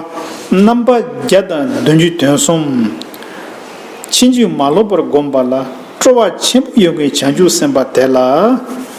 རྣམ་པ་བརྒྱ་དང་བདུན་ཅུ་དོན་གསུམ། ཕྱིན་ཅི་མ་ལོག་པར་བསྒོམས་པ་ལ་སྤྲོ་བ་ཆེན་པོ་ཡོད་མཁན་བྱང་ཆུབ་སེམས་དཔའ་དེ་ལ།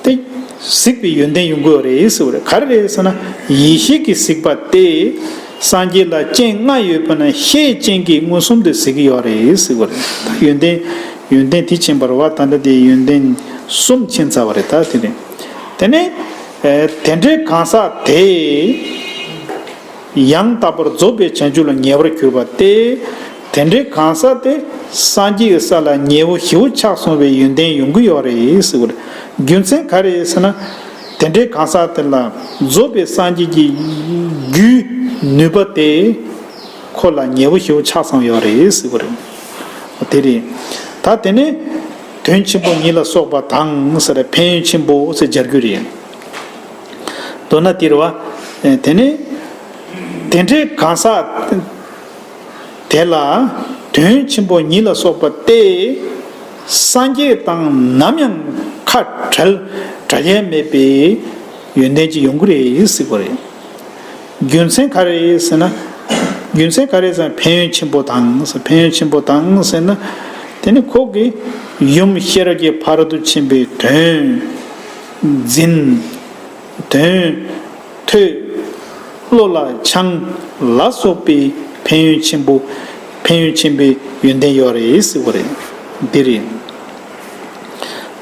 སྟེ། གཟིགས་པའི་ཡོན་ཏན་ཡོན་གོ་རེ་ཡིས་ཟེར་བ་རེད་ག་རེ་རེད་ཟེར་ན། ཡེ་ཤེས་ཀྱི་གཟིགས་པ་སྟེ། སངས་རྒྱས་ལ་སྤྱན་ལྔ་ཡོད་པ་ན་ཤའི་སྤྱན་གྱིས་མངོན་སུམ་དུ་གཟིགས་ཀྱི་ཡོད་རེད་ཟེར་བ་རེད་ད་ཡོན་ཏན། ཡོན་ཏན་དེ་ཕྱིན་པར་བ་ད་ལྟ་དེ་ཡོན་ཏན་གསུམ་ཕྱིན་ཚར་བ་རེད་ད་དེ་རེད། དེ་ནས། དེ་འདྲའི་གང་ཟག་དེས། ཡང་དག་པར་རྫོགས་པའི་བྱང་ཆུབ་ལ་ཉེ་བར་གྱུར་པ་སྟེ། དེ་འདྲའི་གང་ཟག་དེ་སངས་རྒྱས་ཀྱི་ས་ལ་ཉེ་བོ་ཞི་བོ་ཆགས་སོང་བའི་ཡོན་ཏན་ཡོང་གི་ཡོད་རེད། རྒྱུ་མཚན་ག་རེད་ཟེར་ན། དེ་འདྲའི་གང་ཟག་དེ་ལ་རྫོགས་པའི་སངས་རྒྱས་ཀྱི་རྒྱུའི་ནུས་པ་དེ་ཁོ་ལ་ཉེ་བོ་ཞི་བོ་ཆགས་སོང་ཡོད་རེད། དེ་རེད། ད་དེ་ནས་དོན་ཆེན་པོ་ཉིད་ལ་སོགས་པ་དང། ཕན་ཡོན་ཆེན་པོ་ཟེར་སྦྱར་རྒྱུ་རེད། མདོར་ན་དེར་བ། དེ་ནས། དེ་འདྲའི་གང་ཟག། དེ་ལ། དོན་ཆེན་པོ་ཉིད་ལ་སོགས་པ་སྟེ། སངས་རྒྱས་དང་ནམ་ཡང་ཁ་བྲལ་བྲལ་ཡས་མེད་པའི། ཡོན་ཏན་གྱི་ཡོངས་གུ་རེ་གཟིགས་པ་རེད། རྒྱུ་མཚན་ག་རེ་ཟེར་ན། རྒྱུ་མཚན་ག་རེ་ཟེར་ན་ཕན་ཡོན་ཆེན་པོ་དང་ཟེར་ཕན་ཡོན་ཆེན་པོ་དང་ཟེར་ན། དེ་ནི་ཁོག་གི། ཡུམ་ཤེས་རབ་ཀྱི་བར་དུ་ཕྱིན་པའི་དོན། འཛིན། དོན། ཐོས། བློ་ལ་འཆང། ལ་སོགས་པའི་ཕན་ཡོན་ཆེན་པོ། ཕན་ཡོན་ཆེན་པོའི་ཡོན་ཏན་ཡོད་རེད་ཟེར་བ་རེད། འདི་རེད།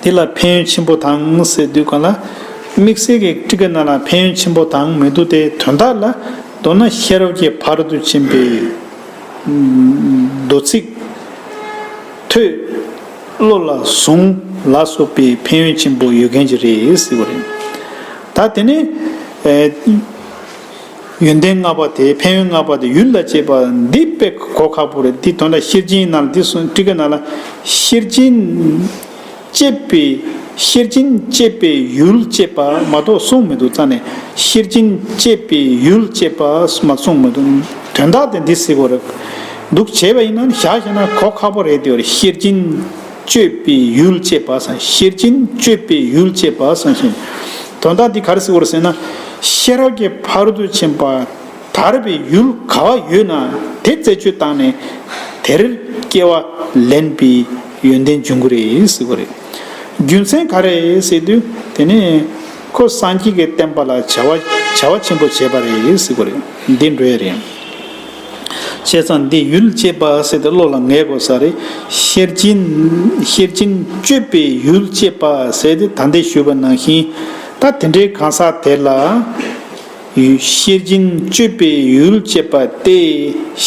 དེ་ལ་ཕན་ཡོན་ཆེན་པོ་དང་ཟེར་དུས་གང་ལ། དམིགས་བསལ་གྱི་ཀྲི་ཀ་རྣམས་ལ་ཕན་ཡོན་ཆེན་པོ་དང་མི་འདུག་སྟེ་དོན་དག་ལ་མདོར་ན་ཤེས་རབ་ཀྱི་བར་དུ་ཕྱིན་པའི། མདོ་ཚིག། ཐོས། བློ་ལ་བཟུང་ལ་སོགས་པའི་ཕན་ཡོན་ཆེན་པོ་ཡོད་མཁན་གྱི་རེད་ཟེར་བ་རེད། ད་དེ་ནས། ཡོན་ཏན་ལྔ་པ་དེ་ཕན་ཡོན་ལྔ་པ་དེ་ཡུལ་ལ་བྱེད་པ་འདི་དཔེ་གོ་ཁག་པོ་རེད་དེ་དོན་ལ་ཤེར་ཕྱིན་ནང་དེ་གསུངས་ཀྲི་ཀ་ནང་ལ། ཤེར་ཕྱིན། སྐྱེད་པའི་ཤེར་ཕྱིན་སྐྱེད་པའི་ཡུལ་ཅེས་པ་མ་གཏོགས་གསུངས་མི་འདུག་རྩ་ནས་ཤེར་ཕྱིན་སྐྱེད་པའི་ཡུལ་ཅེས་པ་མ་གསུངས་མི་འདུག་དོན་དག་དེ་འདི་ཟེར་བ་རེད། འདུག་བྱས་པ་ཡིན་ན་ཞག་བཞི་ན་གོ་ཁག་པོ་རེད་དེ་ཤེར་སྦྱིན་སྤྱོད་པའི་ཡུལ་ཅེས་པ་སངས་ཤེར་སྦྱིན་སྤྱོད་པའི་ཡུལ་ཅེས་པ་སངས་ཤིང། དོན་དག་འདི་ག་རེ་ཟིག་བོར་ཟེར་ན་ཤེས་རབ་ཀྱི་བར་དུ་ཕྱིན་པ་དར་བའི་ཡུལ་ག་བ་ཡོད་ན་དེ་རྩད་གཅོད་བཏང་ནས་དེར་སྐྱེ་བ་ལེན་པའི་ཡོན་ཏན་འབྱུང་གི་རེད་ཟེར་བ་རེད། རྒྱུ་མཚན་ག་རེ་ཟེར་དུས་དེ་ནི་ཁོ་སངས་རྒྱས་ཀྱི་བསྟན་པ་ལ་བྱ་བ་བྱ་བ་ཆེན་པོ་བྱས་པ་རེད་ཟེར་བ་རེད་འདི་འདྲའི་རེད། བྱས་ཙང་འདི་ཡུལ་ཅེས་པ་ཟེར་ཏེ་བློ་ལ་ངེས་དགོས་ས་རེད། ཤེར་སྦྱིན། ཤེར་སྦྱིན་སྤྱོད་པའི་ཡུལ་ཅེས་པ་ཟེར་ཏེ་ད་འདས་ཞུས་པ་ནང་བཞིན་ད་དེ་འདྲའི་གང་ཟག་དེ་ལ། ཤེར་སྦྱིན་སྤྱོད་པའི་ཡུལ་ཅེས་པ་སྟེ་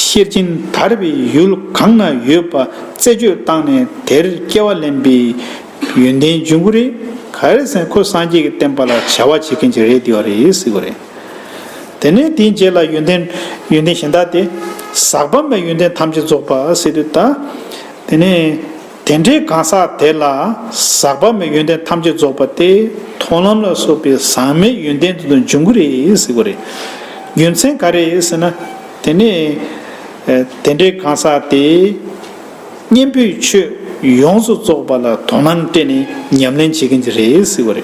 ཤེར་སྦྱིན་དར་བའི་ཡུལ་གང་ན་ཡོད་པ་རྩད་གཅོད་བཏང་ནས་དེར་སྐྱེ་བ་ལེན་པའི་ཡོན་ཏན་འབྱུང་གི་རེད། ག་རེ་ཟེར་ན་ཁོས་སངས་རྒྱས་ཀྱི་བསྟན་པ་ལ་བྱ་བ་བྱེད་མཁན་ཅིག་རེད་དེ་བ་རེད་ཟེར་གི་རེད། དེ་ནས་དེའི་རྗེས་ལ་ཡོན་ཏན། ཡོན་ཏན་གཞན་དག་སྟེ། ཟག་པ་མེད་ཡོན་ཏན་ཐམས་ཅད་རྫོགས་པ་སྲིད་དུ་དག། དེ་ནས། དེ་འདྲའི་གང་ཟག་དེ་ལ། ཟག་པ་མེད་ཡོན་ཏན་ཐམས་ཅད་རྫོགས་པ་སྟེ། མཐོང་ལམ་ལ་སོགས་པའི་ཟག་མེད་ཡོན་ཏན་དེ་དང་འབྱུང་གི་རེད་ཟེར་གོ་རེ། རྒྱུ་མཚན་ག་རེ་ཟེར་ན། དེ་ནས། དེ་འདྲའི་གང་ཟག་དེ། གཉེན་པོས་ཆོས་ཡོངས་སུ་རྫོགས་པ་ལ་དོ་སྣང་སྤྲད་ནས་ཉམས་ལེན་བྱེད་ཀྱིན་གྱི་རེད་ཟེར་གོ་རེ།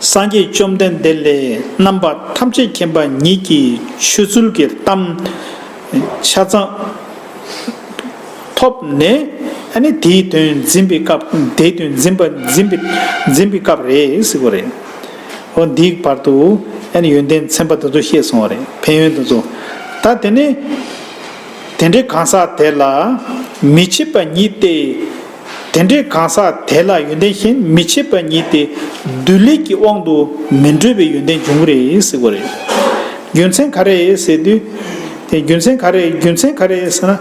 སངས་རྒྱས་བཅོམ་ལྡན་འདས་ལས་རྣམ་པར་ཐམས་ཅད་མཁྱེན་པ་ཉིད་ཀྱི་ཆོས་ཚུལ་གྱི་གཏམ། ཆ་ཚང། ཐོབ་ནས། དེའི་དོན་འཛིན་པའི་སྐབས་དེའི་དོན་འཛིན་པ་འཛིན་པའི་འཛིན་པའི་སྐབས་རེད་ཟེར་བ་རེད། ཧོ་འདིའི་བར་དུ། ཡོན་ཏན་ཚན་པ་དེ་ཚོ་བཤད་སོང་བ་རེད་ཕན་ཡོན་དེ་ཚོ། ད་དེ་ནས། དེ་འདྲའི་གང་ཟག་དེ་ལ། མི་ཕྱེད་པ་ཉིད་དེ། དེ་འདྲའི་གང་ཟག་དེ་ལ་ཡོན་ཏན་ཤན་མི་ཕྱེད་པ་ཉིད་དེ་བདུད་ལས་ཀྱི་དབང་དུ་མི་འགྲོ་བའི་ཡོན་ཏན་འབྱུང་གི་རེད་ཟེར་བ་རེད། རྒྱུ་མཚན་ག་རེད་ཟེར་དུས། རྒྱུ་མཚན་ག་རེད་རྒྱུ་མཚན་ག་རེད་ཟེར་ན།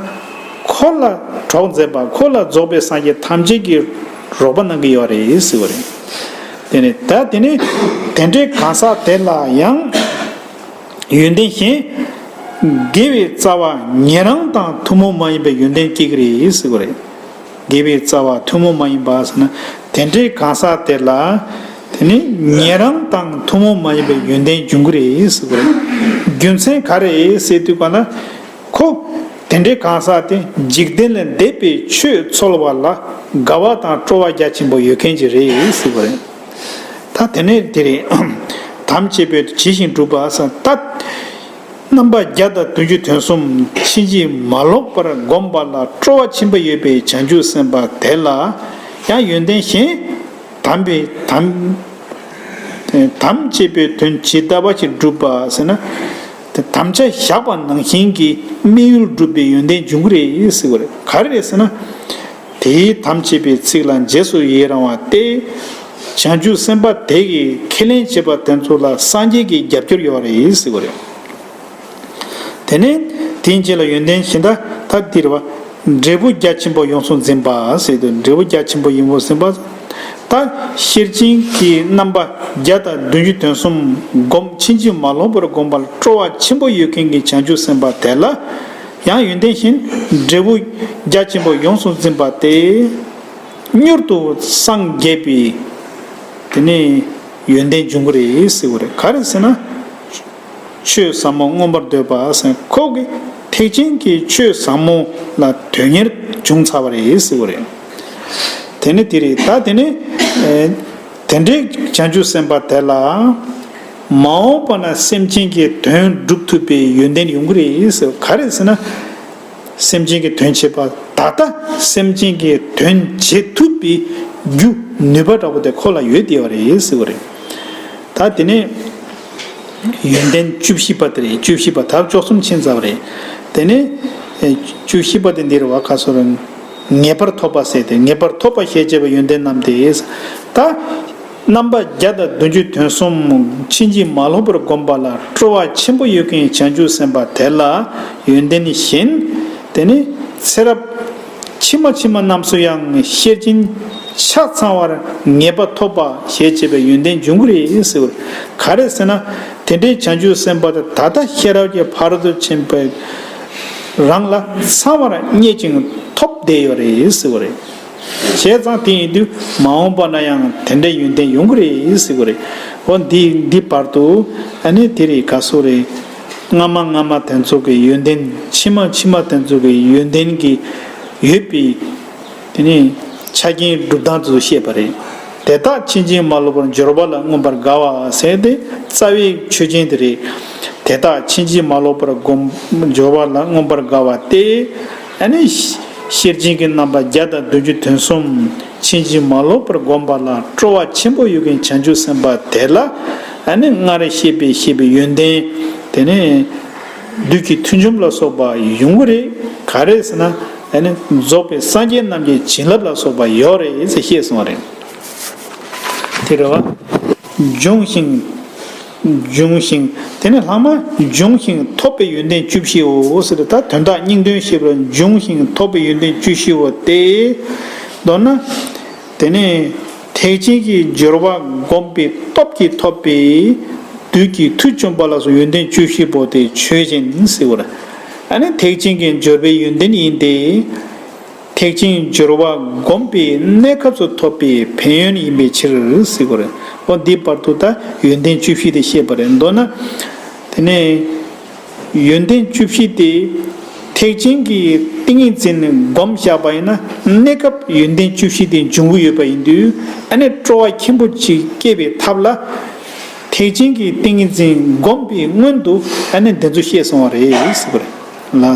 འཁོར་ལ་གྲོགས་མཛད་པ་འཁོར་ལ་རྫོགས་པའི་སངས་རྒྱས་ཐམས་ཅད་ཀྱི་རོགས་པ་གནང་གི་ཡོད་རེད་ཟེར་བ་རེད། ད་དེ་ནས་དེ་འདྲའི་གང་ཟག་དེ་ལ་ཡང་ཡོན་ཏན་ཤན། དགེ་བའི་རྩ་བ་ཉན་རང་དང་ཐུན་མོང་མ་ཡིན་པའི་ཡོན་ཏན་སྐྱེ་གི་རེད་ཟེར་བ་རེད། དགེ་བའི་རྩ་བ་ཐུན་མོང་མ་ཡིན་པའོ་ཟེར་ན། དེ་འདྲའི་གང་ཟག་དེ་ལ། དེ་ནི་ཉན་རང་དང་ཐུན་མོང་མ་ཡིན་པའི་ཡོན་ཏན་འབྱུང་གི་རེད་ཟེར་གི་རེད། རྒྱུ་མཚན་ག་རེད་ཟེར་དུས་པ་ན། ཁོ། དེ་འདྲའི་གང་ཟག་དེ་འཇིག་རྟེན་ལས་འདས་པའི་ཆོས་ཚོལ་བ་ལ་དགའ་བ་དང་སྤྲོ་བ་རྒྱ་ཆེན་པོ་ཡོད་མཁན་གྱི་རེད་ཟེར་གི་རེད། ད་དེ་ནས་དེ་རེད། དམ་བཅས་པས་དུ་ཇི་བཞིན་བསྒྲུབ་པ། ད། རྣམ་པ་བརྒྱ་དང་བདུན་ཅུ་དོན་གསུམ་ཕྱིན་ཅི་མ་ལོག་པར་བསྒོམས་པ་ལ་སྤྲོ་བ་ཆེན་པོ་ཡོད་པའི་བྱང་ཆུབ་སེམས་དཔའ་དེ་ལ་ཡང་ཡོན་ཏན་གཞན་དམ་པའི་དམ། དམ་བཅས་པའི་དོན་ཇི་ལྟ་བ་ཞིག་བསྒྲུབ་པ་ཟེར་ན། དམ་བཅའ་བཞག་པ་ནང་བཞིན་གྱི་དམིགས་ཡུལ་བསྒྲུབ་པའི་ཡོན་ཏན་འབྱུང་གི་རེད་ཟེར་བ་རེད་ག་རེ་རེད་ཟེར་ན། དེའི་དམ་བཅས་པའི་ཚིག་ལ་རྗེས་སུ་ཡི་རང་བ་སྟེ། བྱང་ཆུབ་སེམས་དཔའ་དེ་ཡིས་ཁས་ལེན་བྱས་པ་དེ་ཚོ་ལ་སངས་རྒྱས་ཀྱི་རྒྱབ་སྐྱོར་ཡོད་པ་རེད་ཟེར་བ་རེད། དེ་ནས་དེའི་རྗེས་ལ་ཡོན་ཏན་གཞི་བདག་ཐ་དིར་བ། འབྲས་བུ་རྒྱ་ཆེན་པོ་ཡོངས་སུ་འཛིན་པ་ཟེར་དུས་འབྲས་བུ་རྒྱ་ཆེན་པོ་ཡིན་པོ་ཟིན་པ། ད་ཤེར་ཕྱིན་གྱི་རྣམ་པ་བརྒྱ་དང་བདུན་ཅུ་དོན་གསུམ་བསྒོམ་ཕྱིན་ཅི་མ་ལོག་པར་བསྒོམ་པར་སྤྲོ་བ་ཆེན་པོ་ཡོད་མཁན་གྱི་བྱང་ཆུབ་སེམས་དཔའ་དེ་ལ། ཡང་ཡོན་ཏན་བཞིན་འབྲས་བུ་རྒྱ་ཆེན་པོ་ཡོངས་སུ་འཛིན་པ་སྟེ། མྱུར་དུ་སངས་རྒྱས་པའི་དེ་ནི་ཡོན་ཏན་འབྱུང་གི་རེད་ཟེར་བ་རེད་ག་རེ་ཟེར་ན། ཆོས་ཟབ་མོ་མངོན་པར་འདོད་པ་སེམས་ཁོག་གི་ཐེག་ཆེན་གྱི་ཆོས་ཟབ་མོ་ལ་དོན་གཉེར་འབྱུང་ཚར་བ་རེད་ཟེར་བ་རེད། དེ་ནི་དེ་རེད་ད་དེ་ནི། དེ་འདྲའི་བྱང་ཆུབ་སེམས་དཔའ་དེ་ལ། མ་འོངས་པ་ན་སེམས་ཅན་གྱི་དོན་བསྒྲུབ་ཐུབ་པའི་ཡོན་ཏན་ཡོང་གི་རེད་ཟེར་བ་ག་རེད་ཟེར་ན། སེམས་ཅན་གྱི་དོན་བྱེད་པ་ད་ལྟ་སེམས་ཅན་གྱི་དོན་བྱེད་ཐུབ་པའི་རྒྱུ་ནུས་པ་འདྲ་པོ་དེ་ཁོ་ལ་ཡོད་བསྡད་པ་རེད་ཟེར་བ་རེད། ད་དེ་ནས་ཡོན་ཏན་བཅུ་བཞི་པ་དེ་རེད་བཅུ་བཞི་པ་དག་བཅོ་གསུམ་ཕྱིན་རྩ་བ་རེད། དེ་ནས་བཅུ་བཞི་པ་དེ་འདིར་བ་ཁ་སོ་རུང་ངེས་པར་ཐོབ་པ་ཟེར་དེ་ངེས་པར་ཐོབ་པ་ཞེས་བྱ་བའི་ཡོན་ཏན་རྣམས་ཏེ། ད། རྣམ་པ་བརྒྱ་དང་བདུན་ཅུ་དོན་གསུམ་ཕྱིན་ཅི་མ་ལོག་པར་བསྒོམས་པ་ལ་སྤྲོ་བ་ཆེན་པོ་ཡོད་མཁན་བྱང་ཆུབ་སེམས་དཔའ་དེ་ལ་ཡོན་ཏན་བཞིན། དེ་ནས་ཚེ་རབས་ཕྱི་མ་ཕྱི་མ་རྣམས་སུ་ཡང་ཤེར་ཕྱིན་ཆ་ཚང་བར་ངེས་པ་ཐོབ་པ་ཞེས་བྱ་བའི་ཡོན་ཏན་འབྱུང་གི་རེད་ཟེར་བ་ག་རེད་ཟེར་ན། དེ་འདྲའི་བྱང་ཆུབ་སེམས་དཔའ་དེ་ད་ལྟ་ཤེས་རབ་ཀྱི་བར་དུ་ཕྱིན་པའི་རང་ལ་ཚང་བར་རྙེད་ཅིང་ཐོབ་བསྡད་ཡོད་རེད་ཟེར་བ་རེད། བྱས་ཙང་དེ་ཡིན་དུས་མ་འོངས་པ་ན་ཡང་དེ་འདྲའི་ཡོན་ཏན་ཡོང་གི་རེད་ཟེར་གི་རེད། འོ་འདི་འདི་བར་དུ་ཨ་ནི་དེ་རེད་ག་སོ་རེད། སྔ་མ་སྔ་མ་དེ་ཚོ་གི་ཡོན་ཏན་ཕྱི་མ་ཕྱི་མ་དེ་ཚོ་གི་ཡོན་ཏན་གྱི་ཡོད་པའི་དེ་ནི་ཆ་རྐྱེན་སྒྲུབ་སྟངས་དེ་ཚོ་བཤད་པ་རེད། དེ་དག་ཕྱིན་ཅི་མ་ལོག་པར་འབྱོར་བ་ལ་མངོན་པར་དགའ་བ་ཟེར་དེ་རྩ་བའི་ཆོས་ཅན་དེ་རེད། དེ་དག་ཕྱིན་ཅི་མ་ལོག་པར་སྒོམ་འབྱོར་བ་ལ་མངོན་པར་དགའ་བ་སྟེ། ཨ་ནི། ཤེར་ཕྱིན་གྱི་རྣམ་པ་བརྒྱ་དང་བདུན་ཅུ་དོན་གསུམ་ཕྱིན་ཅི་མ་ལོག་པར་བསྒོམ་པ་ལ་སྤྲོ་བ་ཆེན་པོ་ཡོད་མཁན་བྱང་ཆུབ་སེམས་དཔའ་དེ་ལ་ཨ་ནི་སྔར་བཤད་པའི་ཤེས་པའི་ཡོན་ཏན་དེ་ནི། བདུད་ཀྱི་མཐུ་འཇོམས་ལ་སོགས་པ་ཡོང་གི་རེད་ག་རེ་ཟེར་ན་ཨ་ནི་རྫོགས་པའི་སངས་རྒྱས་རྣམས་ཀྱི་བྱིན་རླབས་ལ་སོགས་པ་ཡོད་རེད་ཅེས་བཤད་སོང་བ་རེད། དེ་རེད་བ། འབྱུང་ཞིང། འབྱུང་ཞིང་དེ་ནས་ལྷག་མ་འབྱུང་ཞིང་ཐོབ་པའི་ཡོན་ཏན་བཅུ་བཞིའོ། ཟེར་ཏེ་ད་དོན་དག་སྙིང་དོན་ཤེས་པར་འབྱུང་ཞིང་ཐོབ་པའི་ཡོན་ཏན་བཅུ་བཞིའོ་སྟེ། མདོར་ན། དེ་ནས་ཐེག་ཆེན་གྱི་སྦྱོར་བ་བསྒོམས་པའི་སྟོབས་ཀྱིས་ཐོབ་པའི་བདུད་ཀྱི་མཐུ་བཅོམ་པ་ལ་སོགས་ཡོན་ཏན་བཅུ་བཞི་པོ་དེ་ཆོས་ཅན། ཨ་ནི་ཐེག་ཆེན་གྱི་སྦྱོར་བའི་ཡོན་ཏན་ཡིན་ཏེ། ཐེག་ཆེན་སྦྱོར་བ་བསྒོམས་པའི་གནས་སྐབས་སུ་ཐོབ་པའི་ཕན་ཡོན་ཡིན་པའི་ཕྱིར། ཨོ་འདིའི་བར་དུ་ད་ཡོན་ཏན་བཅུ་བཞི་དེ་བཤད་པ་རེད་མདོར་ན། དེ་ནས་ཡོན་ཏན་བཅུ་བཞི་དེ་ཐེག་ཆེན་གྱི་ཏིང་ངེ་འཛིན་བསྒོམ་བཞག་པ་ཡིན་ན་གནས་སྐབས་ཡོན་ཏན་བཅུ་བཞི་དེ་འབྱུང་གི་ཡོད་པ་ཡིན་དུས་ཨ་ནེ་སྤྲོ་བ་ཆེན་པོ་ཅིག་སྐྱེ་བའི་ཐབས་ལ། ཐེག་ཆེན་གྱི་ཏིང་ངེ་འཛིན་བསྒོམས་པའི་སྔོན་དུ་ཨ་ནེ་འདི་ཚོ་བཤད་སོང་བ་རེད།